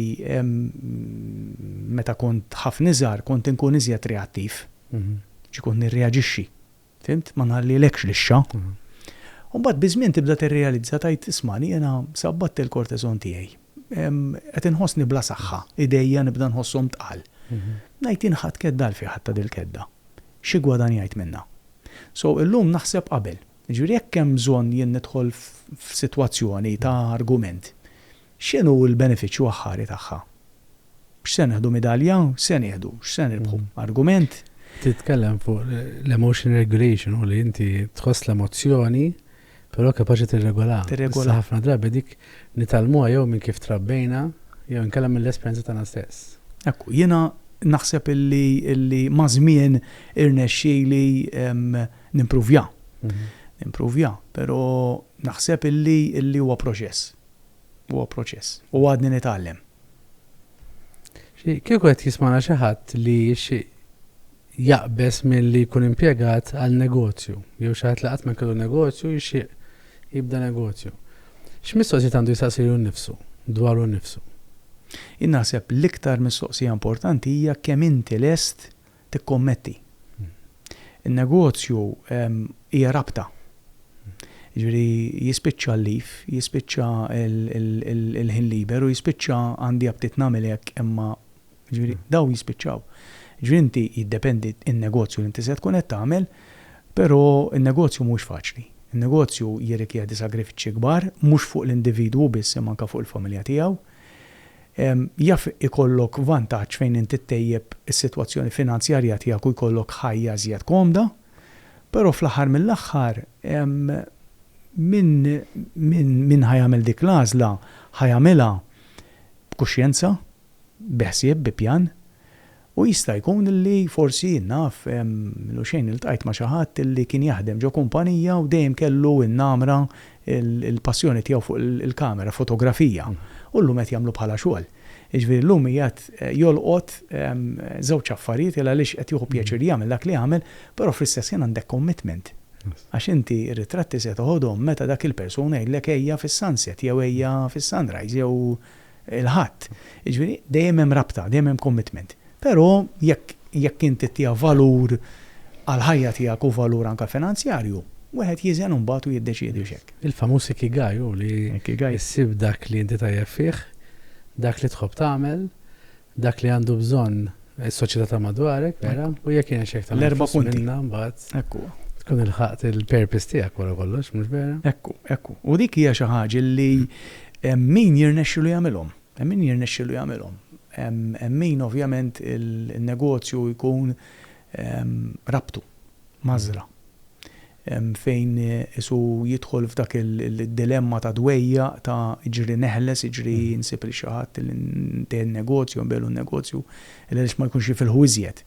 meta kont ħafna iżgħar kont inkun iżjed reattiv, ġi kont nirreaġixxi. Fhimt? Ma nħallilekx lixxa. U mbagħad biż-żmien tibda tirrealizza tgħid, ismagħni jiena sabbatt il-korteżon tiegħi. Qed inħossni bla saħħa, idejja nibda nħosshom tqal. Ngħid jien ħadt kedda għal fieħ għadta dil-kedda. Xi ggwadanjajt minnha? So illum naħseb qabel. Jiġifieri jekk hemm bżonn jien nidħol f'sitwazzjoni ta' argument, X'inhu l-benefiċċju aħħari tagħha? X'se nieħdu midalja? X'se nieħdu? X'se nirbħu? Argument? Titkellem fuq l-emotion regulation u li inti tħoss l-emozzjoni però kapaċi tirregolaha. Tirregolaha. Issa ħafna drabi dik nitgħallmuha jew minn kif trabbejna jew inkella mill-esperjenza tagħna stess. Ekku, jiena naħseb illi illi maż-żmien irnexxieli nimpruvja. Nimpruvja, però naħseb illi illi huwa proċess. Huwa proċess. U għadni nitgħallem. Kieku qed jismana xi ħadd li jixtieq jaqbeż milli jkun impjegat għal negozju, jew xi ħadd li qatt ma kellu negozju jixtieq jibda negozju, x'mistoqsijiet għandu jistaqsilu nnifsu dwaru nnifsu? Jien naħseb l-iktar mistoqsija importanti hija kemm inti lest tikkommetti. In-negozju hija rabta. Jiġifieri jispiċċa l-leaf, jispiċċa l-ħin liber u jispiċċa għandi aptit nagħmel hekk imma, jiġifieri dawn jispiċċaw. Jiġifieri inti jiddependi n-negozju li inti se tkun qed tagħmel, però n-negozju mhuwiex faċli. In-negozju jirrikjedi sagrifiċċji kbar, mhux fuq l-individwu biss imma anke fuq il-familja tiegħu. Jaf ikollok vantaġġ fejn inti ttejjeb is-sitwazzjoni finanzjarja tiegħek u jkollok ħajja iżjed komda, però fl-aħħar mill-aħħar min ħa jagħmel dik l-għażla ħa jagħmilha b'kuxjenza, bi ħsieb, bi pjan. U jista' jkun li forsi, naf, minnu xejn iltqajt ma' xi ħadd li kien jaħdem ġo kumpanija u dejjem kellu n-namra, il-passjoni tiegħu fuq il-kamera, fotografija, u llum qed jagħmlu bħalha xogħol. Jiġifieri llum qiegħed jolqot żewġ affarijiet il għaliex qed jieħu pjaċir jagħmel dak li jagħmel, però fl-istess ħin għandek commitment. Għax inti r-ritratti se toħodhom meta dak il-persuna jgħidlek ejja fis-sunset jew ejja fis-sunrise jew il-Ħadd. Jiġifieri dejjem hemm rabta, dejjem hemm commitment. Però jekk jekk inti ttiha valur għall-ħajja tiegħek u valur anke finanzjarju, wieħed jiżen imbagħad u jiddeċiedi biex hekk. Il-famuż ikigai hu li ssib dak li inti tajjeb fih, dak li tħobb tagħmel, Dak li għandu bżonn is-soċjetà ta' madwarek, vera, u jekk hija xi aktar L-erba' influss punti. minnha mbagħad Hekk huwa. tkun ilħaqt il-purpose tiegħek wara kollox, mhux vera? Hekk hu, hekk hu. U dik hija xi ħaġa li hemm min jirnexxilu jagħmilhom. Hemm min jirnexxilu jagħmilhom. Hemm hemm min ovvjament il-negozju jkun ehm rabtu, mgħażżla. Hemm fejn qisu jidħol f'dak id-dilemma ta' dwejjaq, ta' iġri neħles, iġri nsib lil xi ħadd li ntehhi n-negozju, nbigħlu n-negozju, illa għaliex ma jkunx jifilħu iżjed.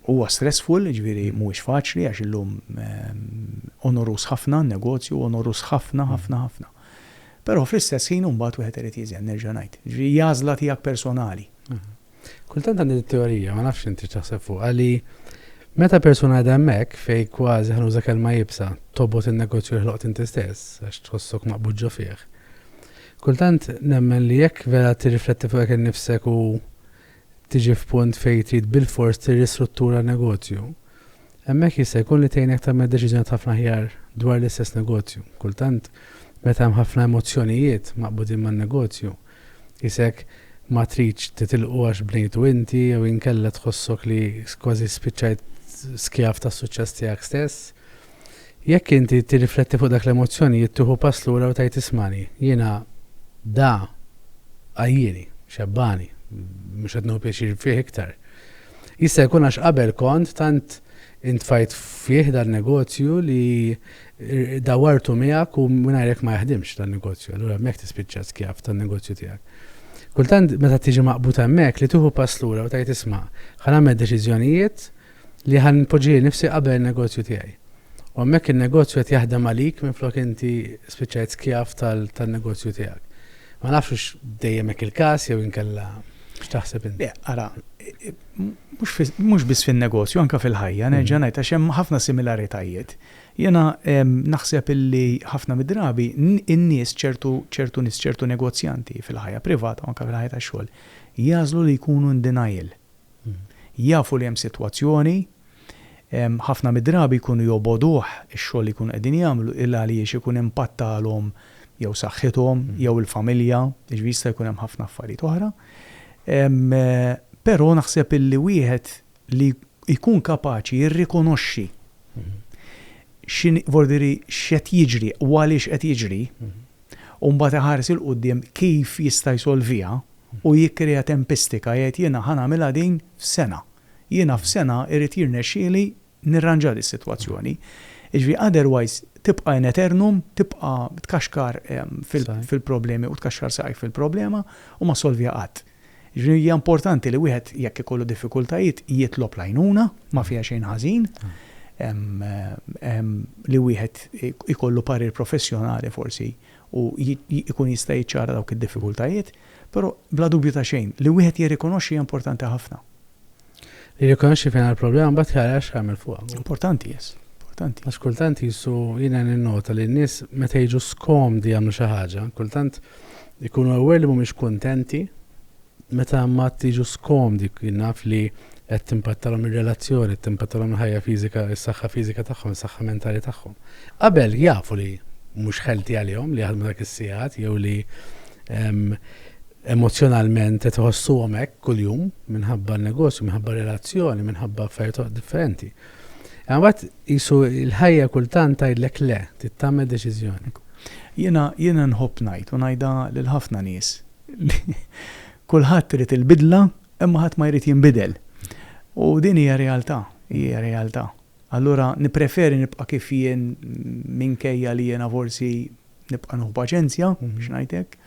Huwa stressful, jiġifieri mhuwiex faċli għax illum onoruż ħafna n-negozju, onoruż ħafna, ħafna, ħafna. Però fl-istess ħin imbagħad wieħed irid jiżen, nerġa' ngħid. Jiġifieri hija għażla tiegħek personali. Kultant għandi din it-teorija, ma nafx inti x'taħseb fuqha, li meta persuna qiegħda hemmhekk fejn kważi ħa nuża kelma iebsa, tobgħod in-negozju li ħloqt inti stess għax tħossok maqbud ġo fih. Kultant nemmen li jekk vera tirrifletti fuq hekk innifsek u tiġi f'punt fejn trid bilfors tirristruttura n-negozju, hemmhekk jista' jkun li tgħinek tagħmel deċiżjonijiet ħafna aħjar dwar l-istess negozju. Kultant meta hemm ħafna emozzjonijiet maqbudin man-negozju, Qisek ma tridx titilqu għax bnejtu inti jew inkella tħossok li kważi spiċċajt skjav tas-suċċess tiegħek stess. Jekk inti tirrifletti fuq dak l-emozzjonijiet tieħu pass lura u tgħid ismani, jiena da għajjieni, xebbgħani, mhux qed nieħu pjaċir fih iktar. Jista' jkun għax qabel kont tant intfajt fih dan-negozju li Dawartu miegħek u mingħajrek ma jaħdimx dan negozju, allura hemmhekk tispiċċa skjav tan-negozju tiegħek. Kultant meta tiġi maqbud hemmhekk li tieħu pass lura u tgħid isma' ħa nagħmel deċiżjonijiet li ħa npoġġi lil nifsi qabel in-negozju tiegħi. U hemmhekk in-negozju qed jaħdem għalik minflok inti spiċċajt skjav tan-negozju tiegħek. Ma nafx hux dejjem hekk il-każ jew inkella X'taħseb inti? Ara, mhux biss fin-negozju, anke fil-ħajja, nerġa' ngħid għax hemm ħafna similaritajiet. Jiena naħseb illi ħafna mid-drabi n-nies, ċertu ċertu nies, ċertu negozjanti fil-ħajja privata u anke fil-ħajja tax-xogħol jagħżlu li jkunu in denial. Jafu li hemm sitwazzjoni, ħafna mid-drabi jkunu jobogħduh ix-xogħol li jkunu qegħdin jagħmlu il għaliex ikun impattalhom jew saħħithom jew il-familja, jiġifieri jista' jkun hemm ħafna affarijiet oħra. Però naħseb illi wieħed li jkun kapaċi jirrikonoxxi x'inhi, voli diri, x'qed jiġri u għaliex qed jiġri, u mbagħad iħares 'il quddiem kif jista' jsolviha u jikkrea tempistika, jgħid jiena ħa nagħmilha din f'sena. Jiena f'sena jrid jirnexxieli nirranġa dis-sitwazzjoni. Jiġifieri otherwise tibqa' in aeternum, tibqa' tkaxkar fil-problemi u tkaxkar saqajk fil-problema u ma ssolviha qatt. Jiġifieri hija importanti li wieħed jekk ikollu diffikultajiet jitlob l-għajnuna, ma fiha xejn ħażin li wieħed ikollu parir professjonali forsi u jkun jista' jiċċara dawk id-diffikultajiet, però bla dubju ta' xejn li wieħed jirrikonoxxi hija importanti ħafna. Li rikonoxxi fejn għal-problema bat jara x'għamil fuqha. Importanti, yes. Importanti. Għax kultant jisu jiena ninnota li n-nies meta jiġu skomdi jagħmlu xi ħaġa, kultant ikunu aware li mhumiex kuntenti meta ma tiġu skomdi naf li qed timpattalhom ir-relazzjoni, timpattalhom il-ħajja fiżika, is-saħħa fiżika tagħhom, is-saħħa mentali tagħhom. Qabel jafu li mhux ħelti għalihom li jaħdmu dak is-sigħat jew li emozzjonalment qed iħossuhom hekk kuljum minħabba n-negozju, minħabba relazzjoni, minħabba affarijiet differenti. Imma mbagħad qisu l-ħajja kultant tgħidlek le, tittamel deċiżjoni. Jiena jiena nħobb ngħid u ngħidha lil ħafna nies. Kulħadd irid il-bidla imma ħadd ma jrid jinbidel. U din hija realtà, hija realtà. Allura nippreferi nibqa' kif jien minkejja li jiena forsi Nibqa' nuħu paċenzja, u mhux ngħid hekk.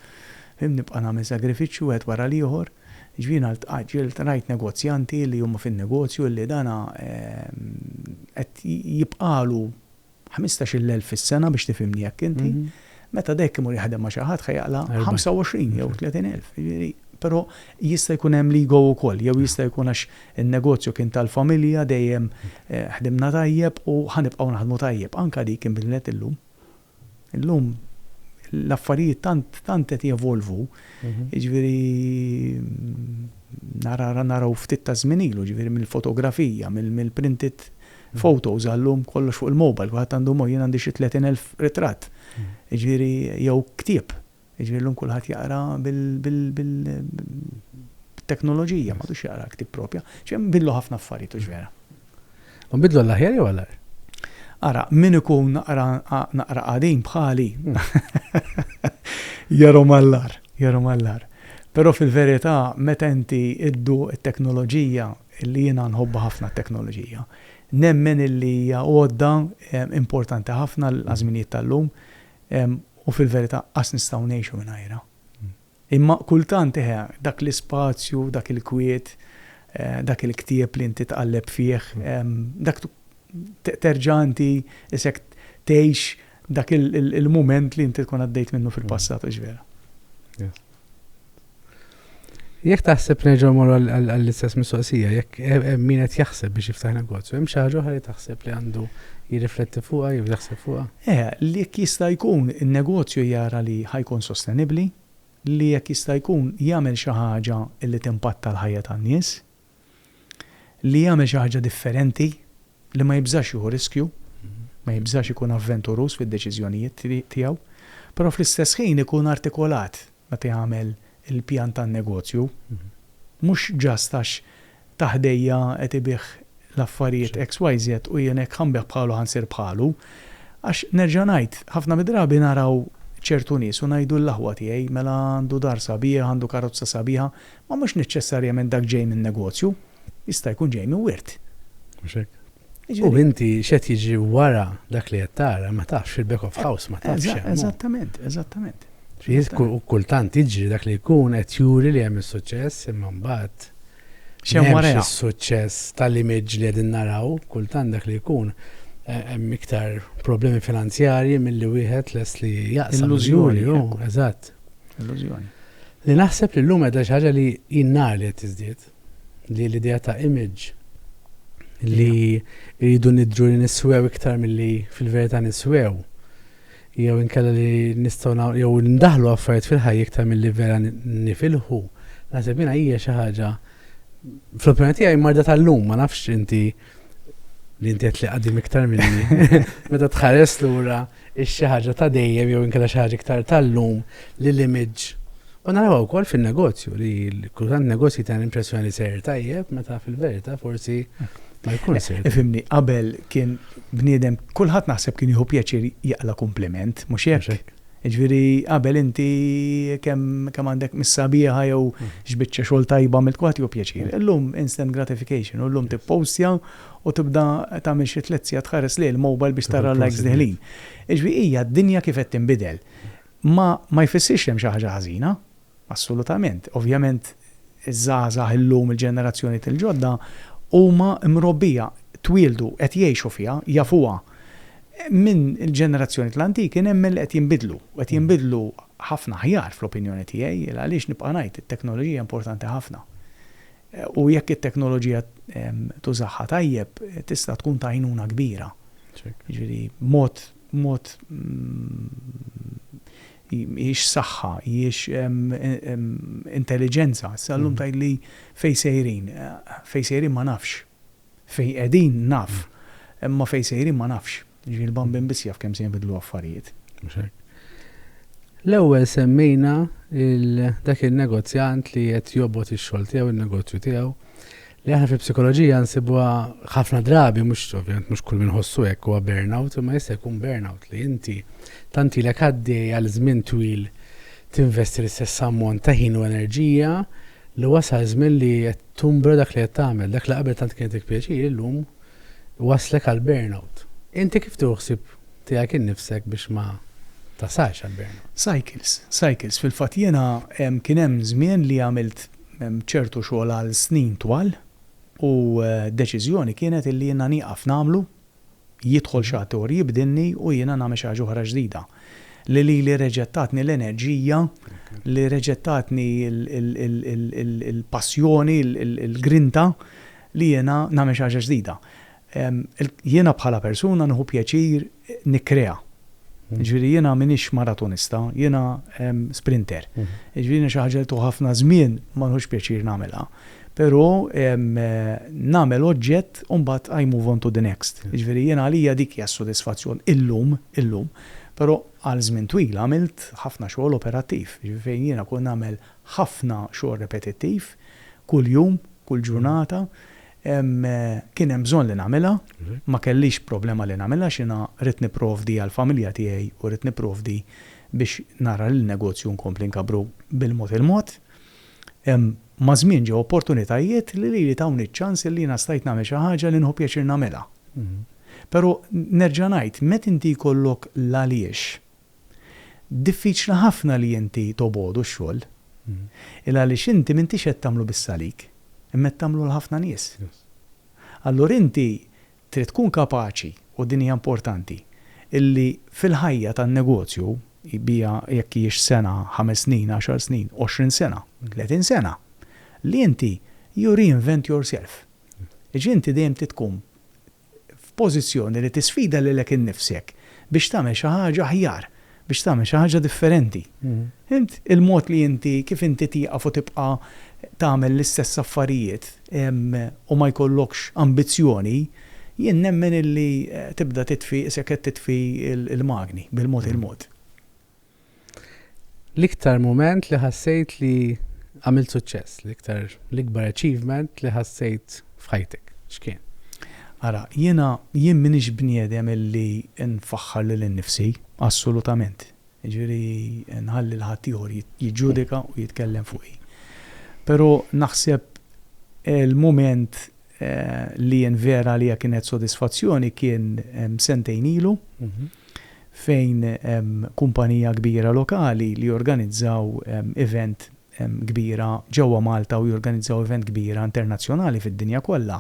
Fhimt, nibqa' nagħmel sagrifiċċju wieħed wara l-ieħor. Jiġifieri jiena ltqajt, rajt negozjanti li huma fin-negozju illi dan qed jibqagħlu ħmistax-il elf fis-sena biex tifhimni hekk inti. Meta dehekk imur jaħdem ma' xi ħadd ħa jaqla' ħamsa u għoxrin jew tletin elf. Jiġifieri, però jista' jkun hemm l-ego wkoll, jew jista' jkun għax in-negozju kien tal-familja, dejjem ħdimna tajjeb u ħa nibqgħu naħdmu tajjeb. Anke dik inbidlet illum. Illum l-affarijiet tant tant qed jevolvu, jiġifieri nara naraw ftit ta' żmien ilu, jiġifieri mill-fotografija, mill-printed photos għal-lum kollox fuq il-mobile, kulħadd għandu mo, jien għandi xi tletin elf ritratt, jiġifieri jew ktieb. Jiġifieri llum kulħadd jaqra bil-teknoloġija, m'għadux jaqra l-ktieb proprja. Ġifieri hemm inbidlu ħafna affarijiet, hux vera? U nbidlu għall-aħjar jew għall-agħar? Ara, min ikun naqra naqra qadim bħali jarahom għall-agħar, jarahom għall-agħar. Però fil-verità meta inti dduq it-teknoloġija, li jiena nħobbha ħafna t-teknoloġija, nemmen illi hija għodda importanti ħafna għaż-żminijiet tal-lum, U fil-verità qas nistgħu ngħixu mingħajrha. Imma kultant, eħe, dak l-ispazju, dak il-kwiet, dak il-ktieb li inti tqalleb fih, dak terġa' inti isek tgħix dak il-mument li inti tkun għaddejt minnu fil-passat, hux vera? Jekk taħseb nerġa' mor għall-istess mistoqsija, jekk min qed jaħseb biex jiftaħ negozju, hemm xi ħaġa oħra li taħseb li għandu jirrifletti fuqha jew jaħseb fuqha? Eh, li jekk jista' jkun in-negozju jara li ħa jkun sostenibbli, li jekk jista' jkun jagħmel xi ħaġa li timpatta l-ħajja tan-nies. li jagħmel xi ħaġa differenti, li ma jibżax jieħu riskju, ma jibżax ikun avventuruż fid-deċiżjonijiet tiegħu, però fl-istess ħin ikun artikolat meta jagħmel il-pjan tan-negozju, mhux just għax ta' ħdejja qed ibigħ l-affarijiet XYZ u jien hekk ħa nbigħ bħalu ħa nsir bħalu. Għax nerġa' ngħid, ħafna mid-drabi naraw ċertu nies u ngħidu lill-aħwa tiegħi, mela għandu dar sabiħ, għandu karozza sabiħa, Ma mhux neċċessarjament dak ġej minn negozju, jista' jkun ġej minn wirt. Mhux hekk? U inti x'qed jiġri wara dak li qed tara ma tafx fil-back of house ma tafx x'hemm hu. Eżattament, eżattament. Kultant jiġri dak li jkun qed juri li hemm is-suċċess imma mbagħad x'hemm wara hekk. Is-suċċess tal-image li qegħdin naraw kultant dak li jkun hemm iktar problemi finanzjarji milli wieħed lest li jaqsam. Illużjoni. Eżatt. Illużjoni. Li naħseb li llum qiegħda xi ħaġa li jien nara li qed tiżdied, li l-idea ta' image li rridu nidhru li niswew iktar milli fil-verità niswew jew inkella li nistgħu jew ndaħlu affarijiet fil-ħajja iktar milli vera nifilħu, naħseb jiena hija xi ħaġa fl-opinjoni tiegħi marda tal-lum ma nafx inti li inti qed li qaddim iktar minni. Meta tħares lura hix xi ħaġa ta' dejjem jew inkella xi ħaġa iktar tal-lum li l-image U narawha wkoll fin-negozju li kultant negozji ta' l-impressjoni li sejr tajjeb meta fil-verità forsi ma jkun sejr. Ifimni, qabel kien bniedem kulħadd naħseb kien jieħu pjaċir jaqla' kumpliment, mhux hekk? Jiġifieri qabel inti kemm għandek miss sabiħa jew x'biċċa xogħol tajba għamilt kulħadd jieħu pjaċir. Illum instant gratification u llum tippowstja u tibda tagħmel xi tliet sigħat tħares lejn il-mobile biex tara l-likes deħlin. Jiġifieri hija d-dinja kif qed tinbidel. Ma ma jfissirx li hemm xi ħaġa ħażina, assolutament. Ovvjament iż-żgħażagħ illum, il-ġenerazzjonijiet il-ġodda huma mrobbija, twieldu, qed jgħixu fiha, jafuha. Minn il-ġenerazzjonijiet l-antiki nemmen li qed jinbidlu u qed jinbidlu ħafna aħjar fl-opinjoni tiegħi, il għaliex nibqa' ngħid it-teknoloġija importanti ħafna. U jekk it-teknoloġija tużaha tajjeb tista' tkun ta' għajnuna kbira. Jiġifieri mod, mod hijiex saħħa, hijiex intelliġenza. Issa llum tgħidli fejn sejrin. Fejn sejrin ma nafx. Fejn qegħdin naf, imma fejn sejrin ma nafx. Jiġifieri l-bambin biss jaf kemm se jinbidlu affarijiet. Mhux hekk? L-ewwel semmejna lil dak in-negozjant li qed jobgħod ix-xogħol tiegħu, in-negozju tiegħu, li aħna fil-psikoloġija nsibuha ħafna drabi, mhux ovvjament mhux kull min iħossu hekk huwa burnout, imma jista' jkun burnout li inti tant ilek għaddej għal żmien twil tinvesti l-istess ammont ta' ħin u enerġija li wasal żmien li qed Tumbra dak li qed tagħmel, dak li qabel tant kienetik pjaċir illum iwasslek għal burnout. Inti kif tieħu ħsieb tiegħek innifsek biex ma tasalx għal burnout? Cycles, cycles. Fil-fatt jiena kien hemm żmien li għamilt ċertu xogħol għal snin twal u deċiżjoni kienet illi jiena nieqaf nagħmlu Jidħol xi attur, jibdilni u jiena nagħmel xi ħaġa oħra ġdida. Li lili reġgħet tatni l-enerġija, li reġgħet tatni l-passjoni, il-grinta li jiena nagħmel xi ħaġa ġdida. Jiena bħala persuna nieħu pjaċir nikkrea. Jiġifieri jiena m'iniex maratonista, jiena sprinter. Jiġifieri jiena xi ħaġa li tieħu ħafna żmien ma nieħux pjaċir nagħmilha. Però nagħmel oġġett u mbagħad I move on to the next. Jiġifieri jiena għalija dik hija s-sodisfazzjon illum, illum. Però għal żmien twil għamilt ħafna xogħol operattiv, jiġifieri fejn jiena kont nagħmel ħafna xogħol repetittiv, kuljum, kull ġurnata, Kien hemm bżonn li nagħmilha, ma kellix problema li nagħmilha għax jiena ridt nipprovdi għall-familja tiegħi u ridt nipprovdi biex nara li n-negozju nkompli nkabbru bil-mod il-mod. Maż-żmien ġew opportunitajiet li lili tawni ċ-ċans li jiena stajt nagħmel xi ħaġa li nieħu pjaċir nagħmilha. Però nerġa' ngħid, meta inti jkollok l-għaliex Diffiċli ħafna li inti tobogħdu x-xogħol, il-għaliex inti m'intix qed tagħmlu biss għalik, imma qed tagħmlu għal ħafna nies. Allura inti trid tkun kapaċi, u din hija importanti, illi fil-ħajja tan-negozju, biha jekk hijiex sena, ħames snin, għaxar snin, għoxrin sena, tletin sena, li inti you reinvent yourself. Jiġifieri inti dejjem trid tkun f'pożizzjoni li tisfida lilek innifsek biex tagħmel xi ħaġa aħjar, biex tagħmel xi ħaġa differenti. Fhimt? Il-mod li inti, kif inti tieqaf u tibqa' tagħmel l-istess affarijiet u ma jkollokx ambizzjoni, jien nemmen illi tibda titfi isek qed titfi l-magni bil-mod il-mod. L-iktar mument li ħassejt li għamilt suċċess, l-iktar l-ikbar achievement li ħassejt f'ħajtek, x'kien? Ara, jiena, jien m'iniex bniedem illi nfaħħar lil innifsi, assolutament. Jiġifieri nħalli 'l ħaddieħor jiġġudika u jitkellem fuqi. Però naħseb il-mument li jien vera għalija kienet sodisfazzjoni kien sentejn ilu fejn kumpanija kbira lokali li jorganizzaw event kbira ġewwa Malta u jorganizzaw event kbira internazzjonali fid-dinja kollha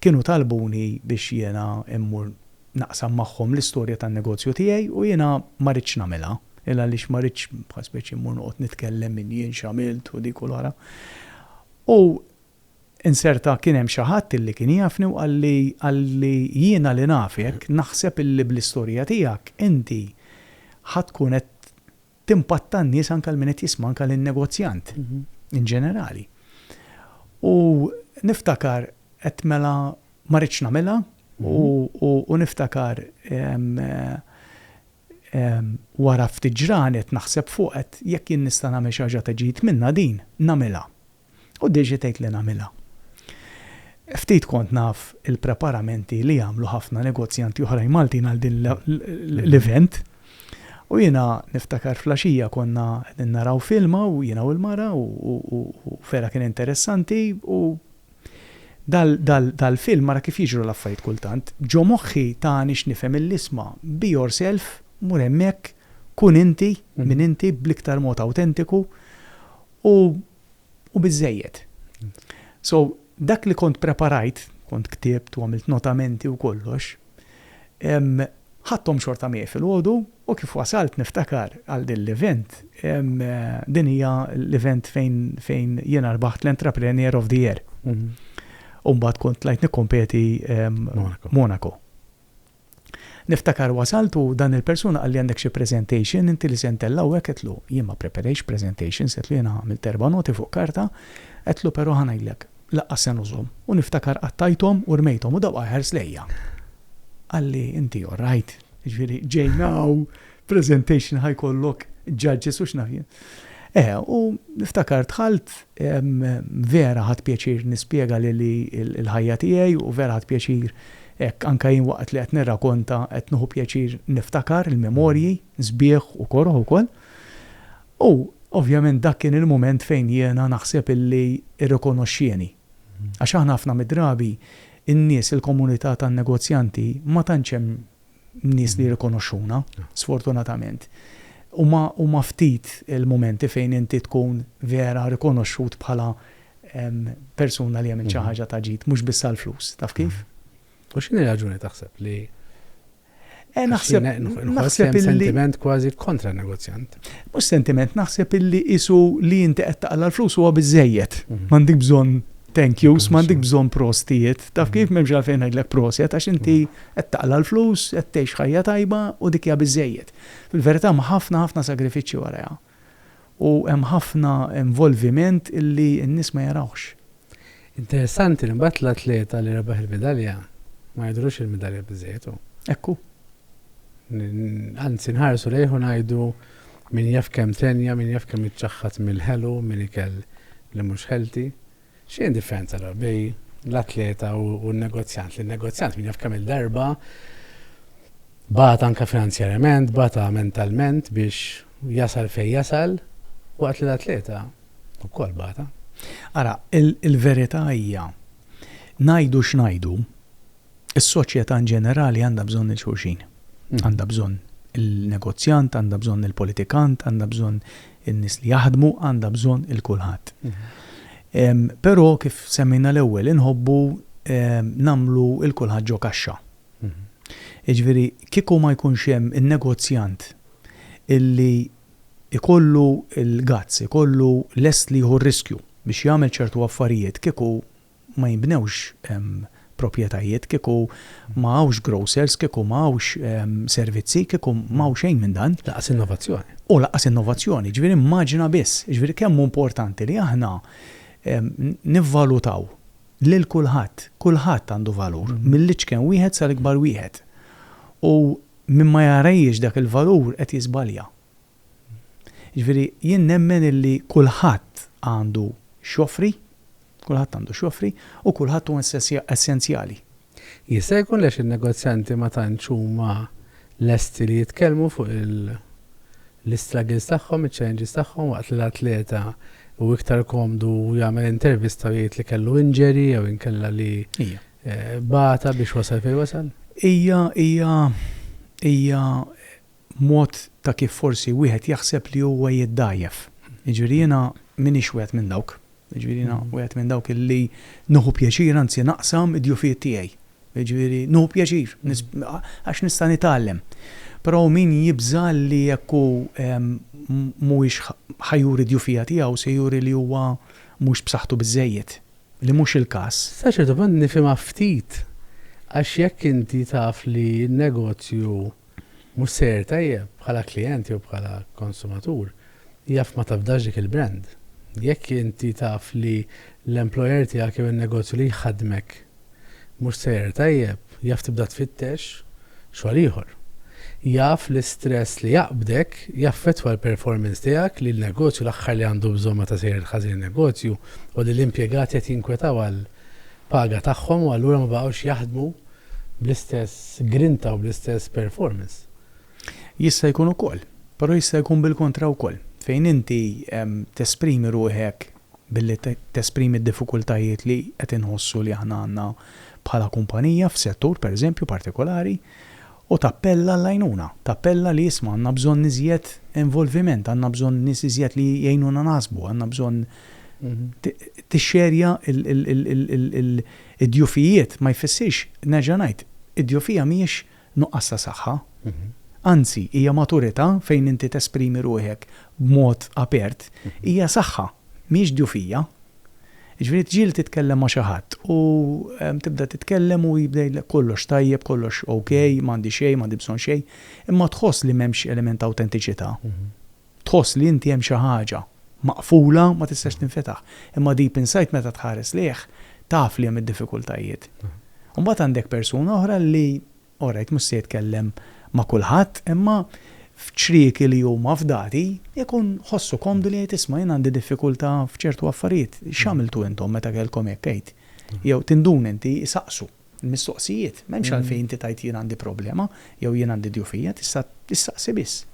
kienu talbuni biex jiena mmur naqsam magħhom l-istorja tan-negozju tiegħi u jiena ma ridtx nagħmilha għaliex ma ridtx bħal speċi mmur noqgħod nitkellem minn jien x'għamilt u dik u l-oħra u Inserta kien hemm xi ħadd illi kien jafni u qalli, qalli, jiena li nafek naħseb illi bl-istorja tiegħek inti ħa tkun qed timpatta n-nies anke lil min qed jisma' anke lin-negozjant in ġenerali. U niftakar għedt mela ma ridtx nagħmilha u niftakar wara ftit ġranet naħseb fuq għedt jekk jien nista' nagħmel xi ħaġa ta' ġid minnha din nagħmilha. U Daisy tgħid li nagħmilha. Ftit kont naf il-preparamenti li jagħmlu ħafna negozjanti oħrajn Maltin għal din l-event. U jiena niftakar flaxija konna qegħdin naraw film hawn jiena u l-mara u vera kien interessanti u dal-film ara kif jiġru l-affarijiet kultant. Ġo moħħi tani x'nifhem mill-isma, be yourself, mur hemmhekk, kun inti, min inti, bl-iktar mod awtentiku, U u biżżejjed. So, dak li kont preparajt, kont ktibt u għamilt notamenti u kollox, ehm, ħadthom xorta miegħi filgħodu u kif wasalt niftakar għal din l-event, ehm, din hija l-event fejn fejn jiena rbaħt l-Entrepreneur of the Year. U mbagħad kont tlajt nikkompeti ehm, Monaco. Niftakar wasalt u dan il-persuna qalli għandek xi presentation inti li se ntell' hawnhekk għedtlu jien ma preperejtx presentations għedtlu jiena għamilt erba' noti fuq karta għedtlu però ħa ngħidlek laqqas se nużhom u niftakar qattajthom u rmejthom u dawqa ħares lejja qalli inti alright jiġifieri ġejna hawn presentation ħa jkollok judges u x'naf jien. Eh, u niftakar dħalt vera ħadd pjaċir nispjega li l-ħajja tiegħi u vera ħadd pjaċir hekk anke jien waqt li qed nirrakonta qed nieħu pjaċir niftakar il-memorji sbieħ u koroh ukoll. U ovvjament dak kien il-mument fejn jiena naħseb illi rrikonoxxieni. Għax aħna ħafna mid-drabi n-nies il-komunità tan-negozjanti ma tantx hemm nies li jirrikonoxxuna, sfortunatament. Huma huma ftit il-mumenti fejn inti tkun vera rikonoxxut bħala persuna li għamilt xi ħaġa ta' ġid, mhux biss għall-flus, taf kif? U x'inhi r-raġuni taħseb li Eh, naħseb naħseb illi sentiment kważi kontra negozjant. Mhux sentiment naħseb illi isu li inti qed taqla l-flus huwa biżejjed. Mhm. M'għandek bżonn thank yous, m'għandek bżonn prostijiet. Taf kif, m'hemmx għalfejn ngħidlek proset għax inti qed taqla' l-flus, qed tgħix ħajja tajba u dik hija biżżejjed. Fil-verità hemm ħafna ħafna sagrifiċċji warajha. U hemm ħafna involviment li n-nies ma jarawhx. Interessanti li mbagħad l-atleta li rebaħ il-midalja ma jidhrux li l-midalja biżżejjed hu. Hekk hu. Anzi nħarsu lejh u ngħidu min jaf kemm tenja, min jaf kemm iċċaħħad mill-ħelu, minn ikel li mhux healthy. X'inhi d-differenza allura bejn l-atleta u n-negozjant? Li n-negozjant min jaf kemm-il darba bagħat anke finanzjarjament, bata mentalment biex jasal fejn jasal, waqt li l-atleta wkoll bata. Ara, il-verità hija, ngħidu x'ngħidu, Is-soċjetà in ġenerali għandha bżonn lil xulxin. Għandha bżonn il-negozjant, għandha bżonn il-politikant, għandha bżonn in-nies li jaħdmu, għandha bżonn il kulħadd. Però kif semmejna l-ewwel inħobbu nagħmlu il kulħadd ġo kaxxa. Jiġifieri kieku ma jkunx hemm in-negozjant illi jkollu l-guts, ikollu lest li jieħu r-riskju biex jagħmel ċertu affarijiet kieku ma jinbnewx proprjetajiet, kieku ma hawnx grocers, kieku ma hawnx servizzi, kieku ma hawn xejn minn dan. Lanqas innovazzjoni. U lanqas innovazzjoni. Ġifieri immaġina biss. Ġifieri kemm hu importanti li aħna nivvalutaw lil kulħadd. Kulħadd għandu valur, mill-iċken wieħed sal-ikbar wieħed. U min ma jarajhiex dak il-valur qed jiżbalja. Jiġifieri jien nemmen illi kulħadd għandu x'joffri, kulħadd għandu x'joffri u kulħadd hu essenzjali. Jista' jkun li għax in-negozjanti ma tantx huma lesti li jitkellmu fuq l-istruggles tagħhom, iċ-challenges tagħhom waqt li l-atleta hu iktar komdu jagħmel intervista u jgħid li kellu injury jew inkella li bata biex wasal fejn wasal? Hija, hija, hija b'mod ta' kif forsi wieħed jaħseb li huwa jiddgħajjef. Jiġifieri jiena m'iniex wieħed minn dawk. Jiġifieri jiena wieħed minn dawk li nieħu pjaċir anzi naqsam id-djufijiet tiegħi. Jiġifieri nieħu pjaċir għax nista' nitgħallem. Però hawn min jibża' li jekk hu mhuwiex ħa juri d-djufija tiegħu se juri li huwa mhux b'saħħtu biżżejjed, li mhux il-każ. Sa ċertu punt nifhimha ftit għax jekk inti taf li n-negozju Mhux sejjer tajjeb, bħala klijent jew bħala konsumatur, jaf ma tafdax dik il-brand. Jekk inti taf li l-employer tiegħek jew in-negozju li jħaddmek mhux sejjer tajjeb, jaf tibda tfittex xogħol ieħor. Jaf li stress li jaqbdek jaffettwa l-performance tiegħek, li l-negozju l-aħħar li għandu bżonn meta sejjer ħażin in-negozju hu li l-impjegati qed jinkwetaw għall-paga tagħhom u allura ma baqgħux jaħdmu bl-istess grinta u bl-istess performance. Jista' jkun ukoll, però jista' jkun bil-kontra wkoll, fejn inti tesprimi ruħek billi tesprimi d-diffikultajiet li qed inħossu li aħna għandna bħala kumpanija f'settur, pereżempju, partikolari, u tappella għall-għajnuna, tappella li isma' għandna bżonn iżjed involviment, għandna bżonn nies iżjed li jgħinuna naħsbu, għandna bżonn tixxerja Id-djufijiet ma jfissirx, nerġa' ngħid, id-djufija mhijiex nuqqas ta' saħħa. Anzi, hija maturità fejn inti tesprimi ruħek b'mod apert. Hija saħħa, mhijiex djufija. Jiġifieri tġieli titkellem ma' xi ħadd u tibda titkellem u jibda jgħidlek kollox tajjeb, kollox ok, m'għandi xejn, m'għandi bżonn xejn, imma tħoss li m'hemmx element ta' awtentiċità. Tħoss li inti hemm xi ħaġa maqfula ma tistax tinfetaħ. Imma deep inside meta tħares lejh taf li hemm id-diffikultajiet. U mbagħad għandek persuna oħra li alright mhux se jitkellem ma' kulħadd imma f'ċrieki li huma fdati jkun ħossu komdu li jgħid isma' jien għandi diffikulta' f'ċertu affarijiet. X'għamiltu intom meta kellkom hekk għid? Jew tinduna inti isaqsu. l-mistoqsijiet. M'hemmx għalfejn inti tgħid jien għandi problema jew jien għandi djufija, tista' issaqsi biss.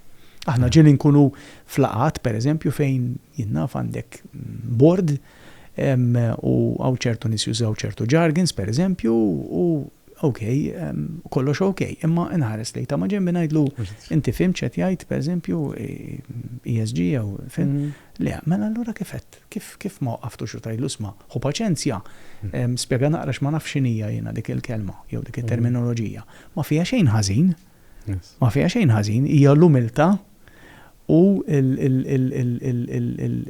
Aħna ġieli nkunu f'laqgħat, pereżempju, fejn jien naf għandek bord u hawn ċertu nies jużaw ċertu jargons, pereżempju, u ok, kollox ok, imma inħares lejn ta' ma' ġenbi ngħidlu inti fhimt x'qed jgħid, pereżempju, ESG jew fil. Le, mela allura kif qed? Kif, kif ma waqqaftux u tgħidlu isma', ħu paċenzja, spjega naqra x'ma nafx x'inhija jiena dik il-kelma jew dik it-terminoloġija. Ma fiha xejn ħażin. Ma fiha xejn ħażin. Hija l-umiltà u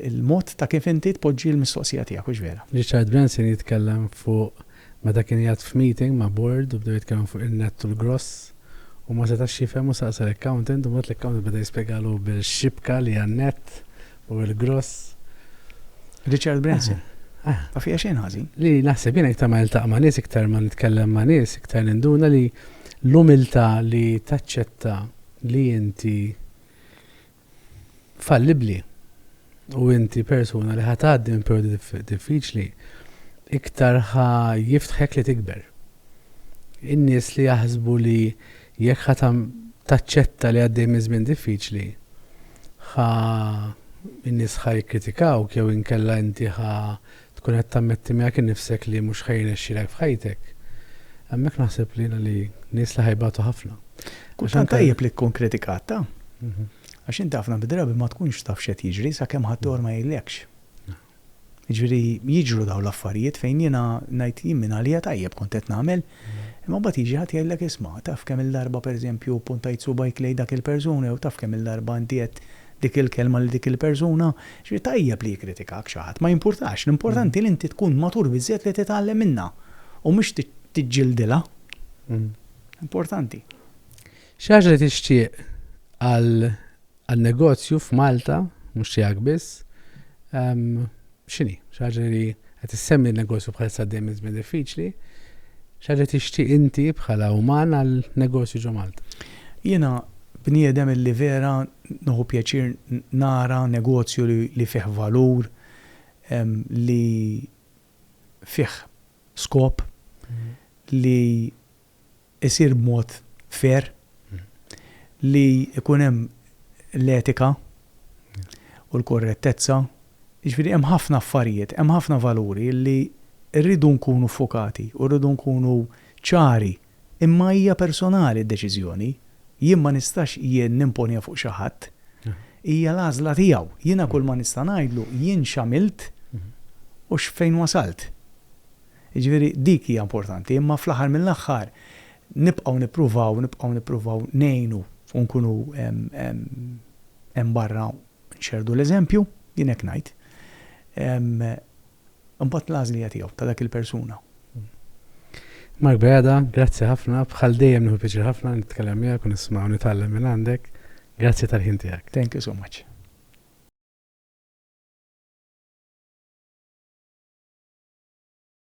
l-mod ta' kif inti tpoġġi l-mistoqsija tiegħek, hux vera? Richard Branson jitkellem fuq Meta kien qiegħed f'meeting ma' board u bdew jitkellmu fuq in-nett u l-gross, hu ma setax jifhem u saqsa l-accountant u mbagħad l-accountant beda jispjegalu bil-xibka li hija n-nett u l-gross. Richard Branson, Ma fiha xejn ħażin. Li naħseb jien iktar ma niltaqa' ma' nies, iktar ma nitkellem ma' nies, iktar ninduna li l-umiltà li taċċetta li inti fallibbli u inti persuna li ħa tgħaddi minn perjodi diffiċli, iktar ħa jiftħek li tikber. In-nies li jaħsbu li jekk ħa taċċetta li għaddej minn żmien diffiċli, ħa in-nies ħa jikritikawk jew inkella inti ħa Tkun qed tammetti miegħek innifsek li mhux ħa jirnexxilek f'ħajtek. Hemmhekk naħseb li jiena li nies li ħa jbatu ħafna. Kultant tajjeb li tkun kritikat ta'. Għax inti ħafna mid-drabi ma tkunx taf x'qed jiġri sakemm ħaddieħor ma jgħidlekx. Jiġifieri jiġru dawn l-affarijiet fejn jiena ngħid jien minn għalija tajjeb kont qed nagħmel Imma mbagħad jiġi ħadd jgħidlek isma', taf kemm-il darba pereżempju ppuntajt subgħajk lejn dak il-persuna jew taf kemm-il darba inti għedt dik il-kelma lil dik il-persuna. Jiġifieri tajjeb li jikkritikak xi ħadd, ma jimpurtax, l-importanti li inti tkun matur biżżejjed li titgħallem minnha u mhux tiġġildilha. Importanti. Xi ħaġa li tixtieq għal għal negozju f'Malta, mhux tiegħek biss, x'inhi? Xi ħaġa li qed issemmi n-negozju bħalissa għaddej minn żmien diffiċli, xi ħaġa tixtieq inti bħala uman għal negozju ġo Malta? Jiena bniedem li vera nieħu pjaċir nara negozju li fih valur, li fih skop, li isir b'mod fair, li jkun hemm l-etika u l-korrettezza, jiġifieri hemm ħafna affarijiet, hemm ħafna valuri li rridu nkunu ffokati u rridu nkunu ċari, imma hija personali d-deċiżjoni, jien ma nistax jien nimponiha fuq xi ħadd, hija l-għażla tiegħu. Jiena kull ma nista' ngħidlu jien x'għamilt u x'fejn wasalt. Jiġifieri dik hija importanti, imma fl-aħħar mill-aħħar nibqgħu nippruvaw, nibqgħu nippruvaw ngħinu u nkunu hemm barra nxerrdu l-eżempju, jien hekk ngħid. Imbagħad l-għażla hija tiegħu, ta' dak il-persuna. Mark Bajada, grazzi ħafna, bħal dejjem nieħu piċir ħafna nitkellem miegħek u nisma' u nitgħallem minn għandek. Grazzi tal-ħin tiegħek. Thank you so much.